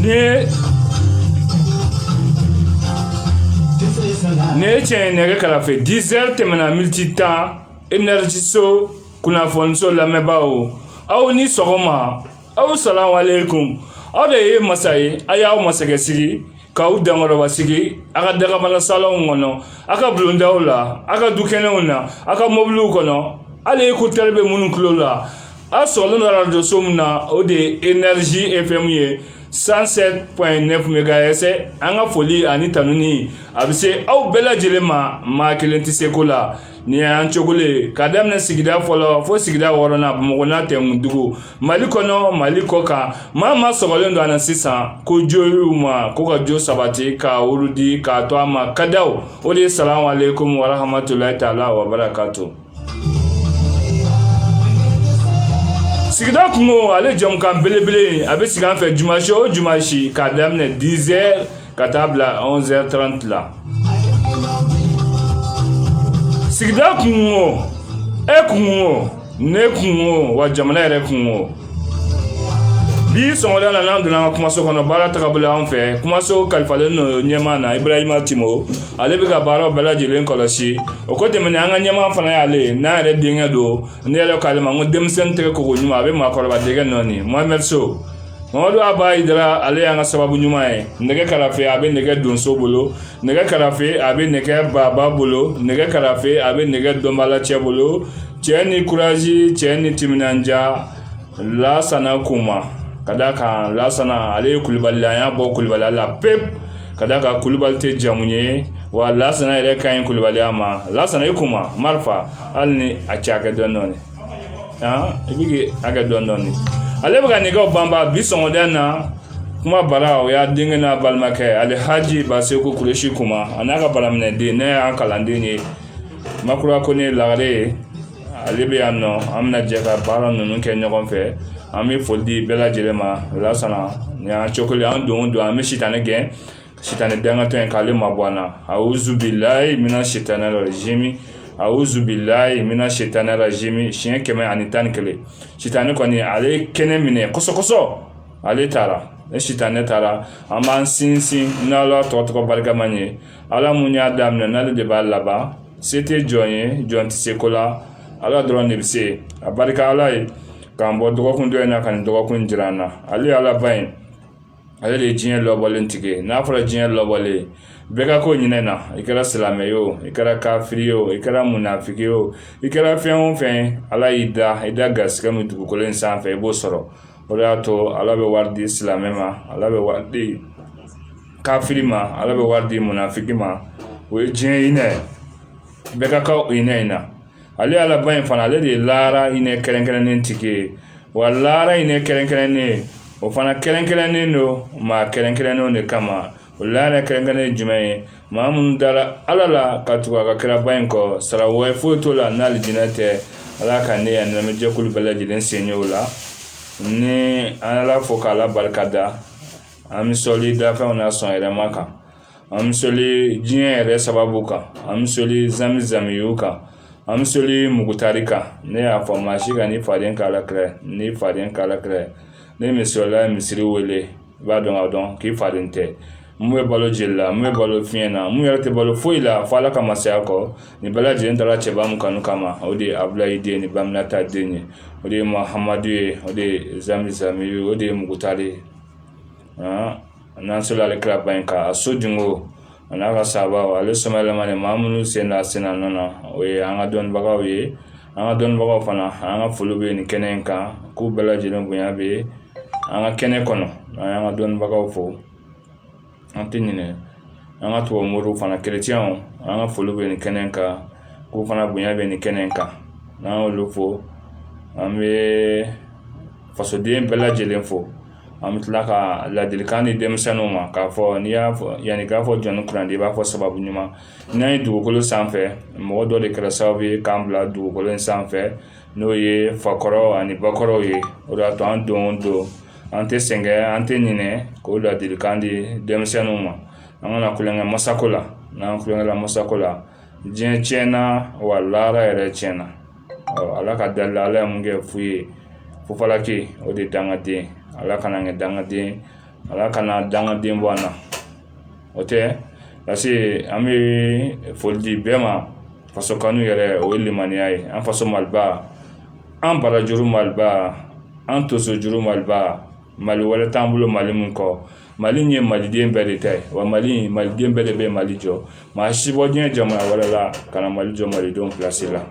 Ni ye Ni ye cɛ ye nɛgɛ karafe 10 heures tɛmɛna miniti tan Energyso kunnafoniso lamɛnbaaw aw ni sɔgɔma aw salamuhalekum aw de ye masa ye a y'aw masakɛsigi k'aw dankɔrɔbasigi a ka dagabana salonw kɔnɔ a ka bulondaw la a ka dukɛnɛw na a ka mobiliw kɔnɔ hali écouteur bɛ minnu tulo la a sɔgɔlen don arajoso min na o de ye energy fm ye 107.9 megahertz an ka foli ani tanuni a bɛ se aw bɛɛ lajɛlen ma maa kelen tɛ se ko la nin y'an cogo le ye ka daminɛ sigida fɔlɔ fo sigida wɔɔrɔnan bamakɔ n'a tɛmɛndugu mali kɔnɔ mali kɔ kan maa maa sɔgɔlen don a na sisan ko jo y'u ma ko ka jo sabati ka wurudi k'a to a ma kadaw o de ye salamalekomi warahamatulayi taala wabarakatu sigida kunko ale jɛmukan belebele a bɛ sigi an fɛ jumasi o jumasi k'a daminɛ dizɛri ka taa bila anwzɛri taranti la sigida kunko e kunko ne kunko wa jamana yɛrɛ kunko bi sɔgɔmada na n'an donna an ka kumaso kɔnɔ baara tagabolo an fɛ kumaso kalifalen don ɲɛmaa na ibrahima timo ale bɛ ka baaraw bɛɛ lajɛlen kɔlɔsi o ko tɛmɛnen an ka ɲɛmaa fana y'ale ye n'an yɛrɛ denkɛ don ne yɛrɛ k'ale ma ko denmisɛnnin tɛgɛ ko ko ɲuman a bɛ maakɔrɔba dɛgɛ nɔɔni mohamɛd so mamadu aba idara ale y'an ka sababu ɲuman ye nɛgɛ karafe a bɛ nɛgɛ donso bolo nɛgɛ karafe a bɛ nɛgɛ baba bolo nɛgɛ karafe a bɛ nɛgɛ dɔnbala cɛ bolo cɛ ni kurazi cɛ ni timinandiya lasana kuma k'a da kan lasana ale ye kulubali an y'a bɔ kulubali la pewu k'a da kan kulubali tɛ jamu ye wa lasana yɛrɛ ka ɲi kulubaliya ma lasana i kuma marifa hali ni a cɛ hakɛ dɔn dɔɔni i bɛ hakɛ dɔn dɔɔni ale bɛ ka nɛgɛw banba bi sɔgɔmada na kuma bara o y'a denkɛ n'a balimakɛ alhaji baseku kuresi kuma a n'a ka baraminɛden ne y'an kalanden ye makura kone lagare ye ale bɛ yan nɔ an bɛna jɛ ka baara ninnu kɛ ɲɔgɔn fɛ an bɛ foli di bɛɛ lajɛlen ma lasana nin y'an cogo an don don an bɛ sitanɛ gɛn sitanɛ dangatɔ in k'ale mabɔ an na awuzu bilayi mina sitanɛ rajimi awuzu bilayi mina sitana rajimi siɲɛ kɛmɛ ani tan ni kelen sitanɛ kɔni ale kɛnɛ minɛ kɔsɔkɔsɔ ale taara ni sitanɛ taara an b'an sinsin n'ala tɔgɔ tɔgɔ barikama ye ala mun y'a daminɛ n'ale de b'a laban se tɛ jɔn ye jɔn tɛ se ko la ala dɔrɔn de bɛ se a barika ala ye k'an bɔ dɔgɔkun dɔ in na ka nin dɔgɔkun jira an na ale ala ba ye ale de ye diɲɛ lawalen tigi n'a fɔra diɲɛ lawalen bɛɛ ka kan hinɛ na i kɛra silamɛ ye o i kɛra kafiri ye o i kɛra munafiki ye o i kɛra fɛn o fɛn ala y'i da i da garisɛgɛ min dugukolo in sanfɛ i b'o sɔrɔ o de y'a to ala bɛ wari di silamɛ ma ala bɛ wari di kafiri ma ala bɛ wari di munafiki ma o ye diɲɛ hinɛ bɛɛ ka kan hinɛ in na ale ala ba in fana ale de ye laara hinɛ kɛrɛnkɛrɛnnen tigi ye wa laara hinɛ kɛrɛnkɛrɛnnen o fana kɛrɛnkɛrɛnnen don maa kɛrɛnkɛrɛnnenw de kama o laara kɛrɛnkɛrɛnnen jumɛn ye maa minnu dara ala la ka tugu a ka kiraba in kɔ sara wɛrɛ foyi t'o la n'alijinɛ tɛ ala ka ne yan lamɛnjɛkulu bɛɛ lajɛlen sɔn o la ni an ala fo k'ala barika da an bɛ sɔli dafɛnw na sɔn yɛrɛma kan an bɛ sɔli diɲɛ yɛrɛ sababu kan an bɛ sɔli zamizami kan an bɛ sɔli mugutari kan ne y'a fɔ maa si kan'i faden k'ala kira n'i faden k'ala kira ni misirila ye misiri wele i b'a dɔn ka dɔn k'i faden tɛ mun bɛ balo jeli la mun bɛ balo fiɲɛ na mun yɛrɛ tɛ balo foyi la fo ala ka masaya kɔ nin bɛɛ lajɛlen dara cɛba min kanu kama o de ye abulayi den ni ba aminata den ye o de ye mahamadu ye o de ye zamizami ye o de ye mugutari ye n'an sɔlila ale kiraba in kan a sodenw a n'a ka sahabaw ale sɔmayɛlɛmanen maa minnu sen da a sen nɔ na o ye an ka dɔnnibagaw ye an ka dɔnnibagaw fana an ka foli bɛ nin kɛnɛ in kan k'u bɛɛ lajɛlen bonya bɛ an ka kɛnɛ kɔnɔ an y'an ka dɔnnibagaw fo an tɛ ɲinɛ an ka tubabu moriw fana kerecɛnw an ka foli bɛ nin kɛnɛ in kan k'u fana bonya bɛ nin kɛnɛ in kan n'an y'olu fo an bɛ fasoden bɛɛ lajɛlen fo an bɛ tila ka ladilikan di denmisɛnninw ma k'a fɔ n'i y'a fɔ yanni k'a fɔ jɔnnin kunnandi i b'a fɔ sababu ɲuman n'an ye dugukolo sanfɛ mɔgɔ dɔ de kɛra sababu ye k'an bila dugukolo in sanfɛ n'o ye fakɔrɔ ani bakɔrɔw ye o de y'a to an don o don an tɛ sɛgɛn an tɛ ɲinɛ k'o ladilikan di denmisɛnninw ma an kana kolon kɛ masako la n'an kolon kɛla masako la diɲɛ tiɲɛna wa laara yɛrɛ tiɲɛna ala ka dali la ala ye mun kɛ fu ye fofalaki o de dangaden ala kan'an kɛ dangaden ala kana dangaden bɔ an na o tɛ parce an bɛ foli di bɛɛ ma faso kanu yɛrɛ o ye limaniya ye an faso maliba an barajuru maliba an tonsojuru maliba mali wɛrɛ t'an bolo mali nin kɔ mali in ye maliden bɛɛ de ta ye wa mali in maliden bɛɛ de bɛ mali jɔ maa si bɔ diɲɛ jamana wɛrɛ la ka na mali jɔ malidenw pilasi la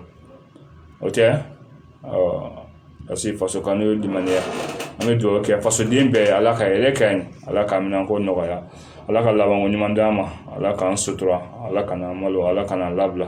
o tɛ ɔ parce que faso kanu o ye limaniya an bɛ dugawu kɛ fasoden bɛɛ ala ka hɛrɛ k'an ye ala ka minɛnko nɔgɔya ala ka labanko ɲuman d'an ma ala k'an sutura ala kan'an malo ala kan'an labila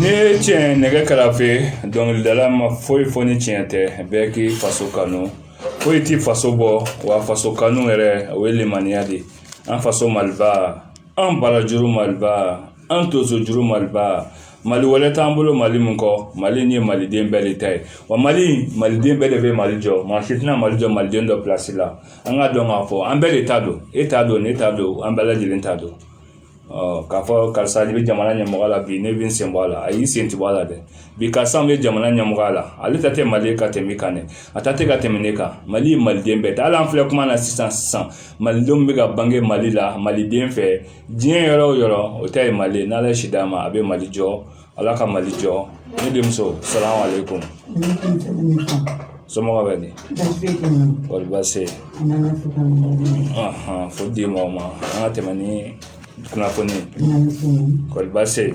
Nin ye tiɲɛ nɛgɛ kɛrɛfɛ dɔnkilidala ma foyi fɔ ni tiɲɛ tɛ bɛɛ k'i faso kanu foyi t'i faso bɔ wa faso kanu yɛrɛ o ye limaniya de ye an faso maliba an barajuru maliba An tonsojuru maliba mali wɛrɛ t'an bolo mali nin kɔ mali nin ye maliden bɛɛ de ta ye wa mali maliden bɛɛ de bɛ mali jɔ maa si tɛna mali jɔ maliden dɔ pilasi la an k'a dɔn k'a fɔ an bɛɛ de ta don e ta don ne ta don an bɛɛ lajɛlen ta don k'a fɔ karisa de bɛ jamana ɲɛmɔgɔ la bi ne bɛ n sen bɔ a la ayi i sen tɛ bɔ a la dɛ bi karisa bɛ jamana ɲɛmɔgɔ la ale ta tɛ mali ka tɛmɛ e kan dɛ a ta tɛ ka tɛmɛ ne kan mali ye maliden bɛɛ ta hali an filɛ kuma na sisan sisan malidenw bɛ ka bange mali la maliden bɛ diɲɛ yɔrɔ o yɔrɔ o ta ye mali ye n'ala ye si d'a ma a bɛ mali jɔ ala ka mali jɔ ne denmuso salamu aleykum somɔgɔ bɛ di kɔri baasi fo di maa ma an ka tɛmɛ ni kunnafoni kɔri baasi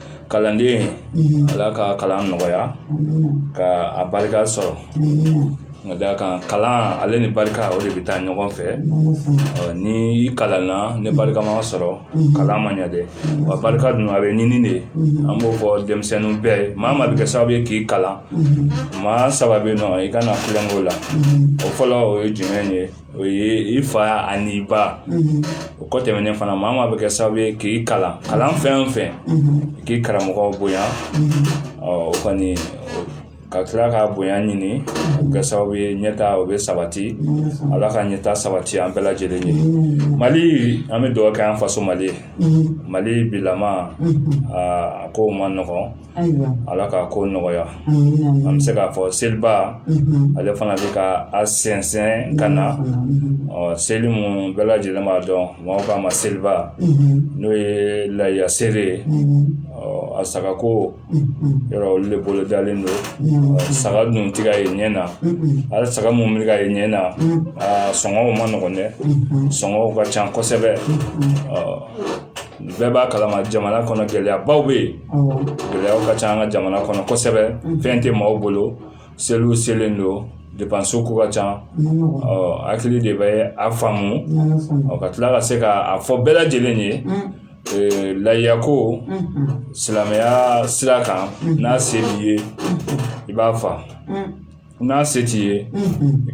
kalanden ala ka kalan nɔgɔya ka a barika sɔrɔ ka d'a kan kalan ale ni barika o de bɛ taa ɲɔgɔn fɛ ni i kalanna ni barika ma sɔrɔ kalan ma ɲɛ dɛ wa barika dun a bɛ ɲini de an b'o fɔ denmisɛnninw bɛɛ ye maa min bɛ kɛ sababu ye k'i kalan maa saba bɛ yen ɔ i kana kulonkɛ o la o fɔlɔ o ye jumɛn ye o ye i fa ani i ba o kɔ tɛmɛnen fana maa min bɛ kɛ sababu ye k'i kalan fɛn o fɛn k'i karamɔgɔ bonya o kɔni ka tila ka bonya ɲini o kɛ sababu ye ɲɛtaa o bɛ sabati ala ka ɲɛtaa sabati an bɛɛ lajɛlen ye mali an bɛ dugawu kɛ an faso mali ye mali bilama a kow man nɔgɔn Ayiwa ala k'a ko nɔgɔya an bɛ se k'a fɔ seliba ale fana bɛ ka a sɛnsɛn ka na ɔ seli mun bɛɛ lajɛlen b'a dɔn maaw k'a ma seliba n'o ye layiya seli ye a sagako yɔrɔ olu de bolo dalen don saga dun ti ka ye ɲɛ na hali saga mun bɛ ka ye ɲɛ na a sɔngɔw man nɔgɔn dɛ sɔngɔw ka ca kosɛbɛ bɛɛ b'a kalama jamana kɔnɔ gɛlɛyabaw bɛ yen gɛlɛyaw ka ca an ka jamana kɔnɔ kosɛbɛ fɛn tɛ maaw bolo seliw selen don depansi ko ka ca hakili de bɛ a faamu ka tila ka se k'a fɔ bɛɛ lajɛlen ye layiya ko silamɛya sira kan n'a se b'i ye i b'a fa n'a se t'i ye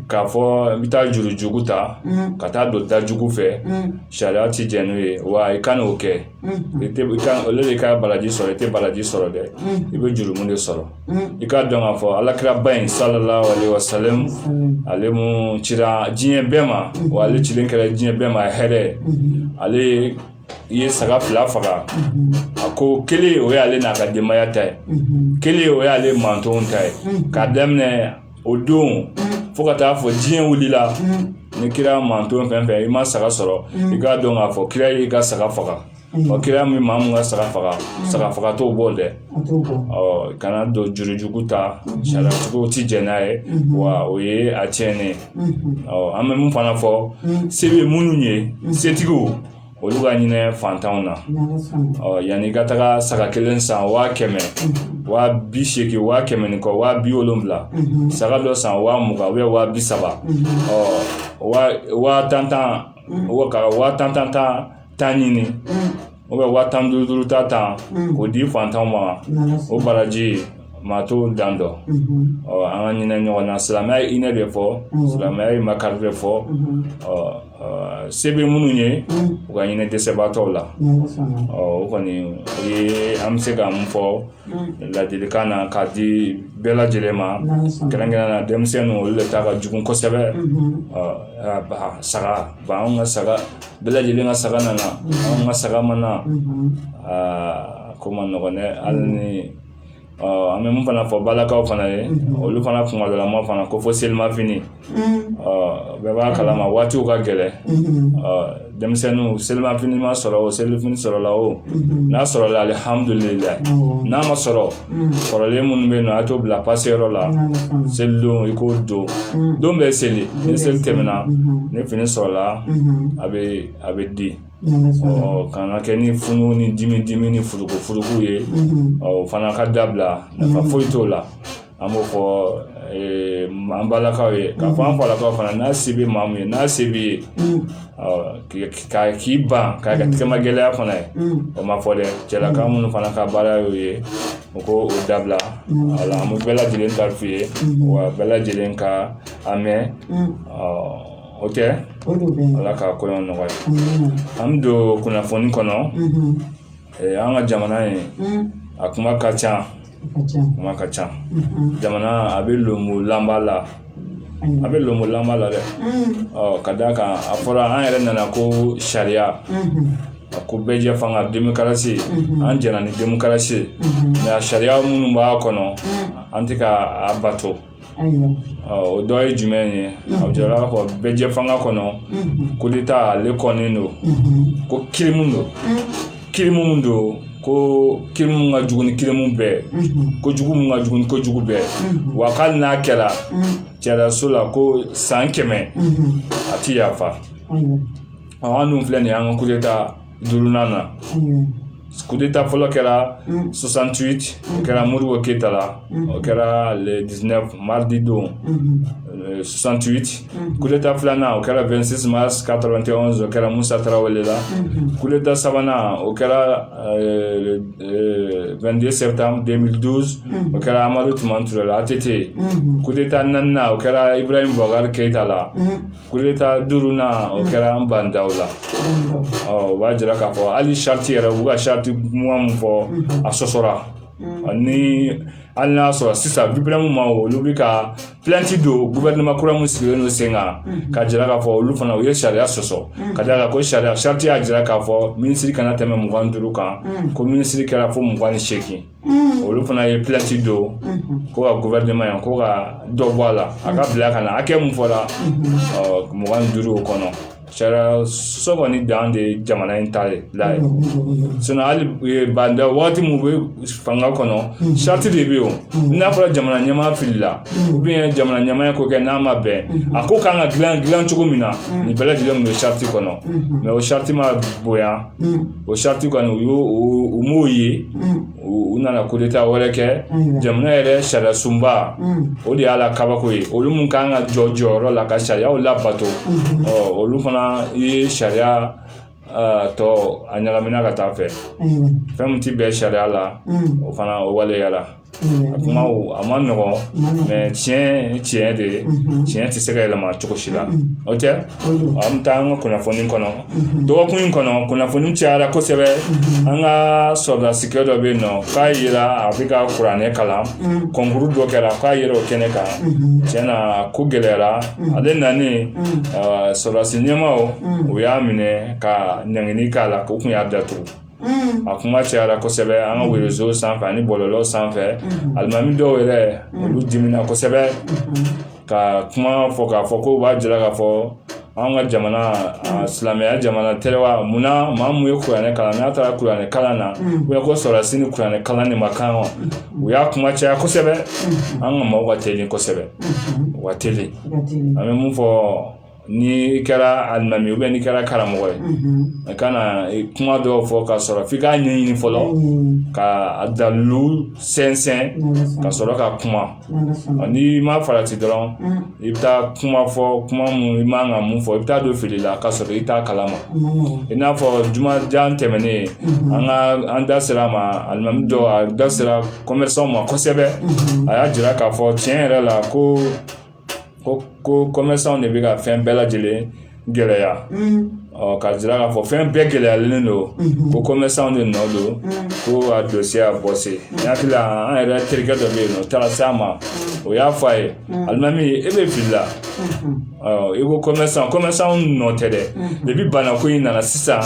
k'a fɔ n bɛ taa juru jugu ta ka taa don da jugu fɛ sariya tɛ jɛn n'o ye wa i kan'o kɛ ale de ka baraji sɔrɔ i tɛ baraji sɔrɔ dɛ i bɛ jurumu de sɔrɔ i k'a dɔn k'a fɔ ala kiraba in salalahu alayihi wa salamu ale mun cira diɲɛ bɛɛ ma wa ale cilen kɛra diɲɛ bɛɛ ma hɛrɛ ale i ye saga fila faga a ko kelen o y'ale n'a ka denbaya ta ye kelen o y'ale mantonw ta ye k'a daminɛ o don fo ka taa fɔ diɲɛ wulila ni kira manton fɛn fɛn i ma saga sɔrɔ i k'a dɔn k'a fɔ kira y'i ka saga faga ɔ kira min maa mun ka saga faga saga faga t'o bɔ dɛ ɔ kana don jurujugu ta sariyatigi ti jɛn n'a ye wa o ye a tiɲɛnen ye ɔ an bɛ mun fana fɔ se bɛ minnu ye setigiw olu ka hinɛ fantanw na ɔ yanni i ka taga saga kelen san waa kɛmɛ waa bi seegin waa kɛmɛ ni kɔ waa bi wolonwula saga dɔ san waa mugan ubiyɛn waa bi saba ɔ waa waa tan tan wa ka waa tan tan tan tan ɲini u bɛ waa tan duuru duuru ta tan k'o di fantanw ma o baraji maa t'o dan dɔn ɔ an ka hinɛ ɲɔgɔn na silamɛya ye hinɛ de fɔ silamɛya ye makari de fɔ ɔ se bɛ minnu ye u ka hinɛ dɛsɛbaatɔw la ɔ o kɔni o ye an bɛ se ka mun fɔ ladilikan na k'a di bɛɛ lajɛlen ma kɛrɛnkɛrɛnnenya la denmisɛnninw olu de ta ka jugu kosɛbɛ ɔ saga b'an ka saga bɛɛ lajɛlen ka saga nana anw ka saga ma na aa ko man nɔgɔn dɛ hali ni an bɛ mun fana fɔ balakaw fana ye olu fana kumadalama fana ko fɔ selimafini bɛɛ b'a kalama waatiw ka gɛlɛn denmisɛnninw selimafini ma sɔrɔ o selifini sɔrɔla o n'a sɔrɔla alihamudulila n'a ma sɔrɔ kɔrɔlen minnu bɛ yen ɔ a t'o bila pase yɔrɔ la selidon i k'o don don bɛ seli ni seli tɛmɛna ni fini sɔrɔla a bɛ a bɛ di ɔ kana kɛ ni funu ni dimi dimi ni furuku furuku ye ɔ o fana ka dabila nafa foyi t'o la an b'o fɔ an balakaw ye k'a fɔ an falakaw fana n'a se bɛ maa min ye n'a se b'i ye ka k'i ban k'a kɛ tɛgɛma gɛlɛya fana ye o ma fɔ dɛ cɛlaka minnu fana ka baara y'o ye u ko o dabila wala an bɛ bɛɛ lajɛlen ta f'i ye wa bɛɛ lajɛlen ka a mɛn o tɛ ala ka kɔɲɔ nɔgɔya an bɛ don kunnafoni kɔnɔ an ka jamana in a kuma ka ca kuma ka ca mhm. jamana a bɛ lonbolanba la a bɛ lonbolanba la dɛ mhm. ka d'a kan a fɔra an yɛrɛ nana ko sariya mhm. a ko bɛɛjɛfanga demokarasi an jɛna ni demokarasi nka sariya minnu b'a kɔnɔ an tɛ ka a bato o dɔ ye jumɛn ye a jirala k'a fɔ bɛɛjɛfanga kɔnɔ kudeta ale kɔnnen don ko kirimu don kirimu mun don ko kirimu mun ka jugu ni kirimu bɛɛ kojugu mun ka jugu ni kojugu bɛɛ wa hali n'a kɛra sariyaso la ko san kɛmɛ a ti yafa an dun filɛ nin ye an ka kudeta duurunan na kudeta fɔlɔ kɛra 68 o kɛra modibo keyita la o kɛra le 19 mardi don 68 kudeta filanan o kɛra 26 mars 91 o kɛra musa tarawele la kudeta sabanan o kɛra 22 septembre 2012 o kɛra amadu tumani ture la att kudeta naaninan o kɛra ibrahim bubakari keyita la kudeta duurunan o kɛra ba ndaw la ɔ o b'a jira k'a fɔ hali sariti yɛrɛ u ka sariti kuma mun fɔ a sɔsɔra ani hali n'a sɔrɔ sisan biprem ma olu bɛ ka pilanti don gofɛrɛnaman kura min sigilen don sen kan ka jira k'a fɔ olu fana u ye sariya sɔsɔ ka d'a kan ko sariya sariti y'a jira k'a fɔ minisiri kana tɛmɛ mugan ni duuru kan ko minisiri kɛra fo mugan ni seegin olu fana ye pilanti don ko ka gofɛrɛneman yan ko ka dɔ bɔ a la a ka bila ka na hakɛ mun fɔra mugan ni duuru o kɔnɔ sariya sɔsɔ kɔni dan de ye jamana in ta la ye sinon hali ba ndaw waati min bɛ fanga kɔnɔ sariti de bɛ yen o n'a fɔra jamana ɲɛmaa filila ou bien jamana ɲɛmaa ko kɛ n'a ma bɛn a ko kan ka dilan dilan cogo min na nin bɛɛ lajɛlen tun bɛ sariti kɔnɔ mɛ o sariti ma bonya o sariti kɔni u y'o u m'o ye u nana kudeta wɛrɛ kɛ jamana yɛrɛ sariyasunba o de y'a la kabako ye olu minnu kan ka jɔ jɔyɔrɔ la ka sariyaw labato ɔ olu fana ye sariya tɔ a ɲagamina ka taa fɛ fɛn min tɛ bɛn sariya la o fana o waleyara a kuma a man nɔgɔn tiɲɛ tiɲɛ de ye tiɲɛ tɛ se ka yɛlɛma cogo si la o tɛ an bɛ taa an ka kunnafoni kɔnɔ dɔgɔkun in kɔnɔ kunnafoni cayara kosɛbɛ an ka sɔrɔdasikɛ dɔ bɛ yen nɔ k'a yira a bɛ ka kuranɛ kalan kɔnkuru dɔ kɛra k'a yira o kɛnɛ kan tiɲɛ na ko gɛlɛyara ale nani sɔrɔdasi ɲɛmaaw u y'a minɛ ka ɲangini k'a la k'u kun y'a datugu a kuma cayara kosɛbɛ an ka rezo sanfɛ ani bɔlɔlɔ sanfɛ alimami dɔw yɛrɛ olu dimina kosɛbɛ ka kuma fɔ k'a fɔ ko u b'a jira k'a fɔ anw ka jamana silamɛya jamana tɛ wa mun na maa mun ye kuranɛ kalan n'a taara kuranɛ kalan na u ko sɔrɔdasi ni kuranɛ kalan de man kan wa u y'a kuma caya kosɛbɛ an ka maaw ka teli kosɛbɛ u ka teli an bɛ mun fɔ n'i kɛra alimami ubiyɛn n'i kɛra karamɔgɔ ye i kana kuma dɔw fɔ ka sɔrɔ f'i k'a ɲɛɲini fɔlɔ ka a dalilu sɛnsɛn ka sɔrɔ ka kuma n'i ma farati dɔrɔn i bɛ taa kuma fɔ kuma mun i man ka mun fɔ i bɛ taa don fili la ka sɔrɔ i t'a kalama i n'a fɔ jumajan tɛmɛnen an ka an da sera a ma alimami dɔ a da sera kɔmɛsan ma kosɛbɛ a y'a jira k'a fɔ tiɲɛ yɛrɛ la ko ko ko kɔmɛsanw de bɛ ka fɛn bɛɛ lajɛlen gɛlɛya k'a jira k'a fɔ fɛn bɛɛ gɛlɛyalen don ko kɔmɛsan de nɔ don ko a don se a bɔ se y'a hakili la an yɛrɛ terikɛ dɔ bɛ yen o taara se a ma o y'a fɔ a ye alimami e bɛ fili la i ko kɔmɛsan kɔmɛsan nɔ tɛ dɛ depi banako in nana sisan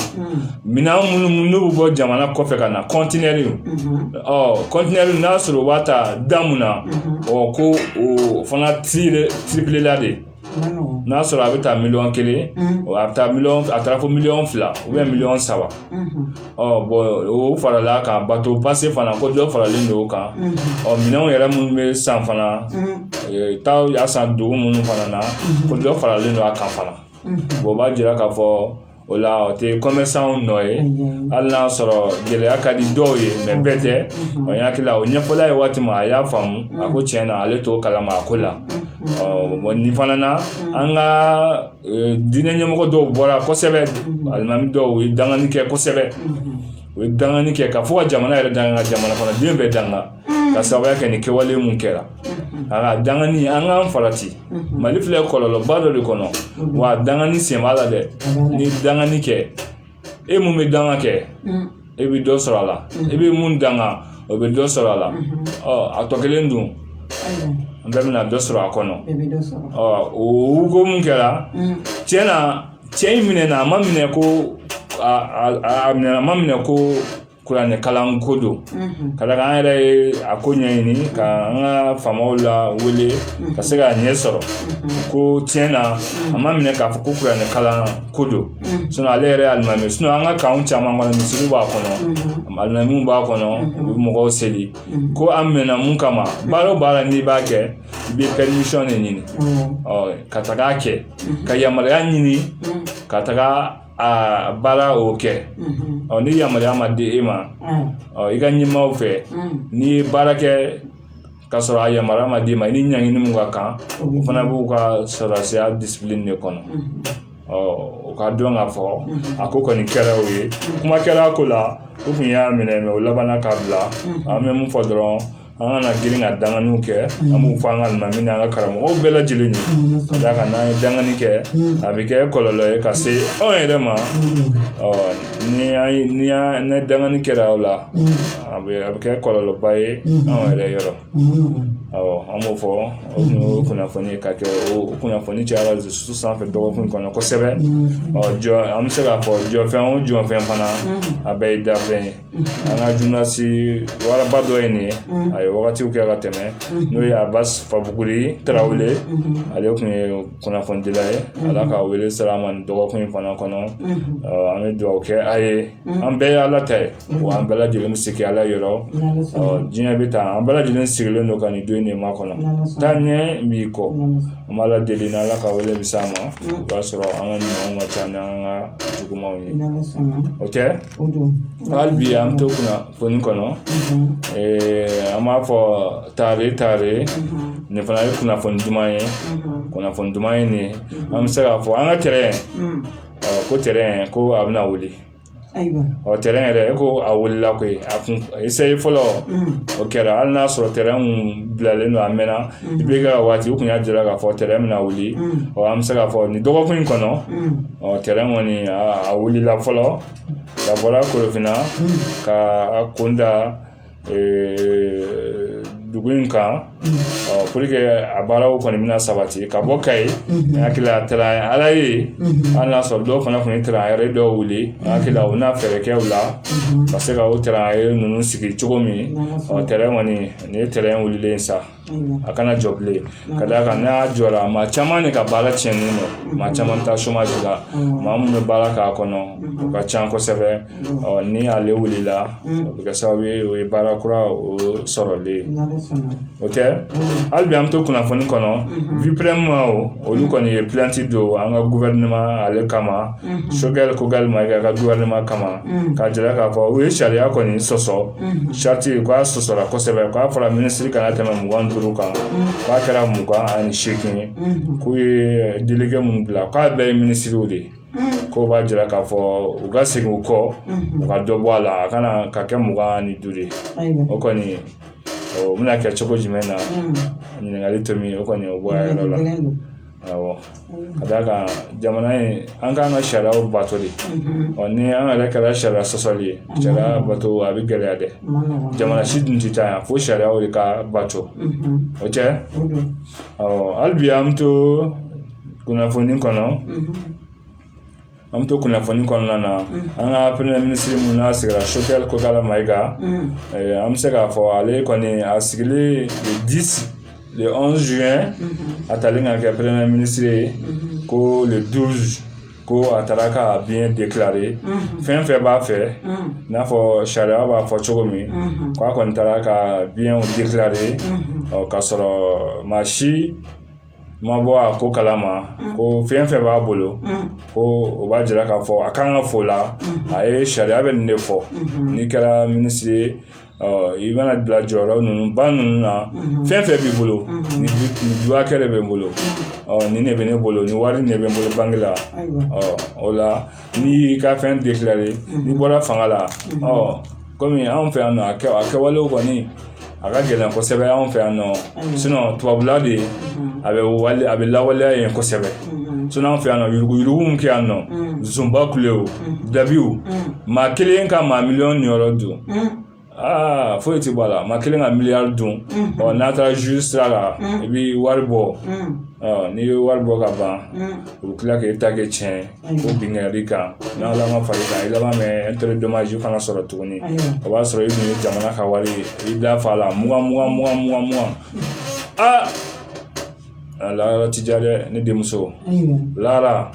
minɛn minnu n'u bɛ bɔ jamana kɔfɛ ka na kɔntenɛri kɔntenɛri n'a sɔrɔ u b'a ta da mun na ɔ ko o fana tiripilela de n'a sɔrɔ a bɛ taa miliyɔn kelen a bɛ taa mi a taara fɔ miliyɔn fila ubiyɛn miliyɔn saba ɔ bɔn o farala kan bato pase fana ko dɔ faralen don o kan ɔ minɛnw yɛrɛ minnu bɛ san fana taa y'a san dugu minnu fana na ko dɔ faralen don a kan fana bɔn o b'a jira k'a fɔ o la o tɛ kɔmɛsanw nɔ ye hali n'a sɔrɔ gɛlɛya ka di dɔw ye mɛ bɛɛ tɛ o y'a hakili la o ɲɛfɔla a ye waati min a y'a faamu a ko tiɲɛ na ale t'o kalama a ko la bɔn nin fana na an ka diinɛ ɲɛmɔgɔ dɔw bɔra kosɛbɛ alimami dɔw u ye dangani kɛ kosɛbɛ u ye dangani kɛ ka fɔ ka jamana yɛrɛ danga ka jamana kɔnɔdenw bɛɛ danga ka sababuya kɛ nin kɛwale mun kɛra a ka dangani an k'an farati mali filɛ kɔlɔlɔba dɔ de kɔnɔ wa dangani sen b'a la dɛ n'i dangani kɛ e mun bɛ danga kɛ e bɛ dɔ sɔrɔ a la e bɛ mun danga o bɛ dɔ sɔrɔ a la ɔ a tɔ kelen dun an bɛɛ bɛna dɔ sɔrɔ a kɔnɔ ɔ o ko mun kɛra tiɲɛ na cɛ in minɛna a ma minɛ ko a minɛ a ma minɛ ko kuranɛ kalan ko don ka d'a kan an yɛrɛ ye a ko ɲɛɲini ka an ka faamaw la wele ka se k'a ɲɛ sɔrɔ ko tiɲɛ na a ma minɛ k'a fɔ ko kuranɛ kalan ko don sinon ale yɛrɛ alimami sinon an ka kanw caman kɔnɔ misiriw b'a kɔnɔ alimamiw b'a kɔnɔ u bɛ mɔgɔw seli ko a minɛna mun kama baara o baara n'i b'a kɛ i bɛ permission de ɲini ka taga kɛ ka yamaruya ɲini ka taga a baara o kɛ ni yamaruya ma di e ma i ka ɲɛmaaw fɛ n'i ye baara kɛ ka sɔrɔ a yamaruya ma d'i ma i ni ɲangini min ka kan o fana b'u ka sɔrɔdasiya discipline de kɔnɔ o ka dɔn k'a fɔ a ko kɔni kɛra o ye kuma kɛra a ko la u tun y'a minɛ mɛ o labanna k'a bila an bɛ mun fɔ dɔrɔn an kana girin ka danganiw kɛ an b'u fo an ka alimami ni an ka karamɔgɔw bɛɛ lajɛlen ka d'a kan n'an ye dangani kɛ a bɛ kɛ kɔlɔlɔ ye ka se anw yɛrɛ ma ni an ye ni an ni dangani kɛra o la a bɛ a bɛ kɛ kɔlɔlɔba ye anw yɛrɛ yɔrɔ awɔ an b'o fɔ o kun ye kunnafoni ye ka kɛ o kunnafoni cayara réseau sanfɛ dɔgɔkun kɔnɔ kosɛbɛ ɔ jɔ an bɛ se k'a fɔ jɔfɛn o jɔfɛn fana a bɛɛ ye dafɛn ye an ka journaliste waraba dɔ ye nin ye a ye wagatiw kɛ ka tɛmɛ n'o ye abbas fanbuguri tarawele ale tun ye kunnafonidila ye ala ka wele sera a ma nin dɔgɔkun in fana kɔnɔ an bɛ dugawu kɛ a ye an bɛɛ ye ala ta ye wa an bɛɛ lajɛlen bɛ segin ala yɔrɔ diɲɛ bɛ taa an bɛɛ lajɛlen sigilen don ka nin don in de makɔnɔ taa ɲɛ b'i kɔ an b'ala deli ni ala ka wele bɛ s'a ma o b'a sɔrɔ an ka ɲumanw ka ca ni an ka jugumanw ye o tɛ hali bi an bɛ to kunnafoni kɔnɔ an b'a fɔ tare tare nin fana ye kunnafoni duman ye kunnafoni duman ye nin an bɛ se k'a fɔ an ka tɛrɛn ko tɛrɛn ko a bɛna wuli ɔ tɛrɛn yɛrɛ e ko a wulila koyi a kun essai fɔlɔ o kɛra hali n'a sɔrɔ tɛrɛn kun bilalen don a mɛnna i bɛ ka waati u kun y'a jira k'a fɔ tɛrɛn bɛna wuli ɔ an bɛ se k'a fɔ nin dɔgɔkun in kɔnɔ ɔ tɛrɛn kɔni a wulila fɔlɔ a bɔra korofinna ka a kun da dugu in kan pour que a baaraw kɔni bɛna sabati ka bɔ kayi n hakili la taara ala ye hali n'a sɔrɔ dɔw fana tun ye tɛrɛn yɛrɛ dɔw wuli n hakili la u na fɛɛrɛ kɛ u la ka se ka o tɛrɛn ninnu sigi cogo min ɔ tɛrɛn kɔni nin ye tɛrɛn wulilen ye sa a kana jɔ bilen ka d'a kan n'a jɔra maa caman de ka baara tiɲɛnen don maa caman taa chômage la maa min bɛ baara k'a kɔnɔ o ka ca kosɛbɛ ni ale wulila o bɛ kɛ sababu ye o ye baara kura o sɔrɔlen o tɛ hali bi an bɛ to kunnafoni kɔnɔ BIPREM maaw olu kɔni ye plainte don an ka gouvernement ale kama Choguel Kokalla Maïga ka gouvernement kama k'a jira k'a fɔ u ye sariya kɔni sɔsɔ sariti k'a sɔsɔra kosɛbɛ k'a fɔra minisiri kana tɛmɛ mugan ni duuru kan k'a kɛra mugan ani seegin ye k'u ye delege mun bila k'a bɛɛ ye minisiriw de ye ko b'a jira k'a fɔ u ka segin u kɔ u ka dɔ bɔ a la a kan ka kɛ mugan ni duuru ye o kɔni o bɛna kɛ cogo jumɛn na ɲininkali tomi o kɔni o bɔ a yɔrɔ la awɔ ka d'a kan jamana in an k'an ka sariyaw bato de ɔ ni an yɛrɛ kɛra sariya sɔsɔli ye sariya bato a bɛ gɛlɛya dɛ jamana si dun tɛ taa ɲɛ fo sariyaw de ka bato okɛ ɔ hali bi an bɛ to kunnafoni kɔnɔ an bɛ to kunnafoni kɔnɔna na an ka premier minisiri min n'a sigira Choguel Kokalla Maïga an bɛ se k'a fɔ ale kɔni a sigili le onze juin a tali ka kɛ premier minisiri ye ko le douze ko a taara ka biens déclarer fɛn fɛn b'a fɛ n'a fɔ sariya b'a fɔ cogo min ko a kɔni taara ka biens déclarer ka sɔrɔ maa si ma bɔ a ko kalama ko fɛn fɛn b'a bolo ko o b'a jira k'a fɔ a kan ka fɔ la a ye sariya bɛ nin de fɔ n'i kɛra minisiri ye i mana bila jɔyɔrɔ ninnu ba ninnu na fɛn fɛn b'i bolo ni dukɛ de bɛ n bolo nin ne bɛ ne bolo ni wari de bɛ n bolo banki la o la n'i y'i ka fɛn déclarer n'i bɔra fanga la kɔmi anw fɛ yan nɔ a kɛ a kɛwalew kɔni a ka gɛlɛn kosɛbɛ anw fɛ yan nɔ sinon tubabula de a bɛ wale a bɛ lawaleya yen kosɛbɛ sinon anw fɛ yan nɔ yuruguyurugu min kɛ yan nɔba kule o dabiw maa kelen ka maa miliyɔn niyɔrɔ dun aa foyi tɛ bɔ a la maa kelen ka miliyari dun ɔ n'a taara zuzi sira la i bɛ wari bɔ n'i ye wari bɔ ka ban u bɛ tila k'e ta kɛ tiɲɛ ye ko binkanni kan n'ala ma far'i kan i laban bɛ intérêt dommage fana sɔrɔ tuguni o b'a sɔrɔ i tun ye jamana ka wari ye i da fa la mugan mugan mugan mugan mugan aa ala yɔrɔ ti diya dɛ ne denmuso lara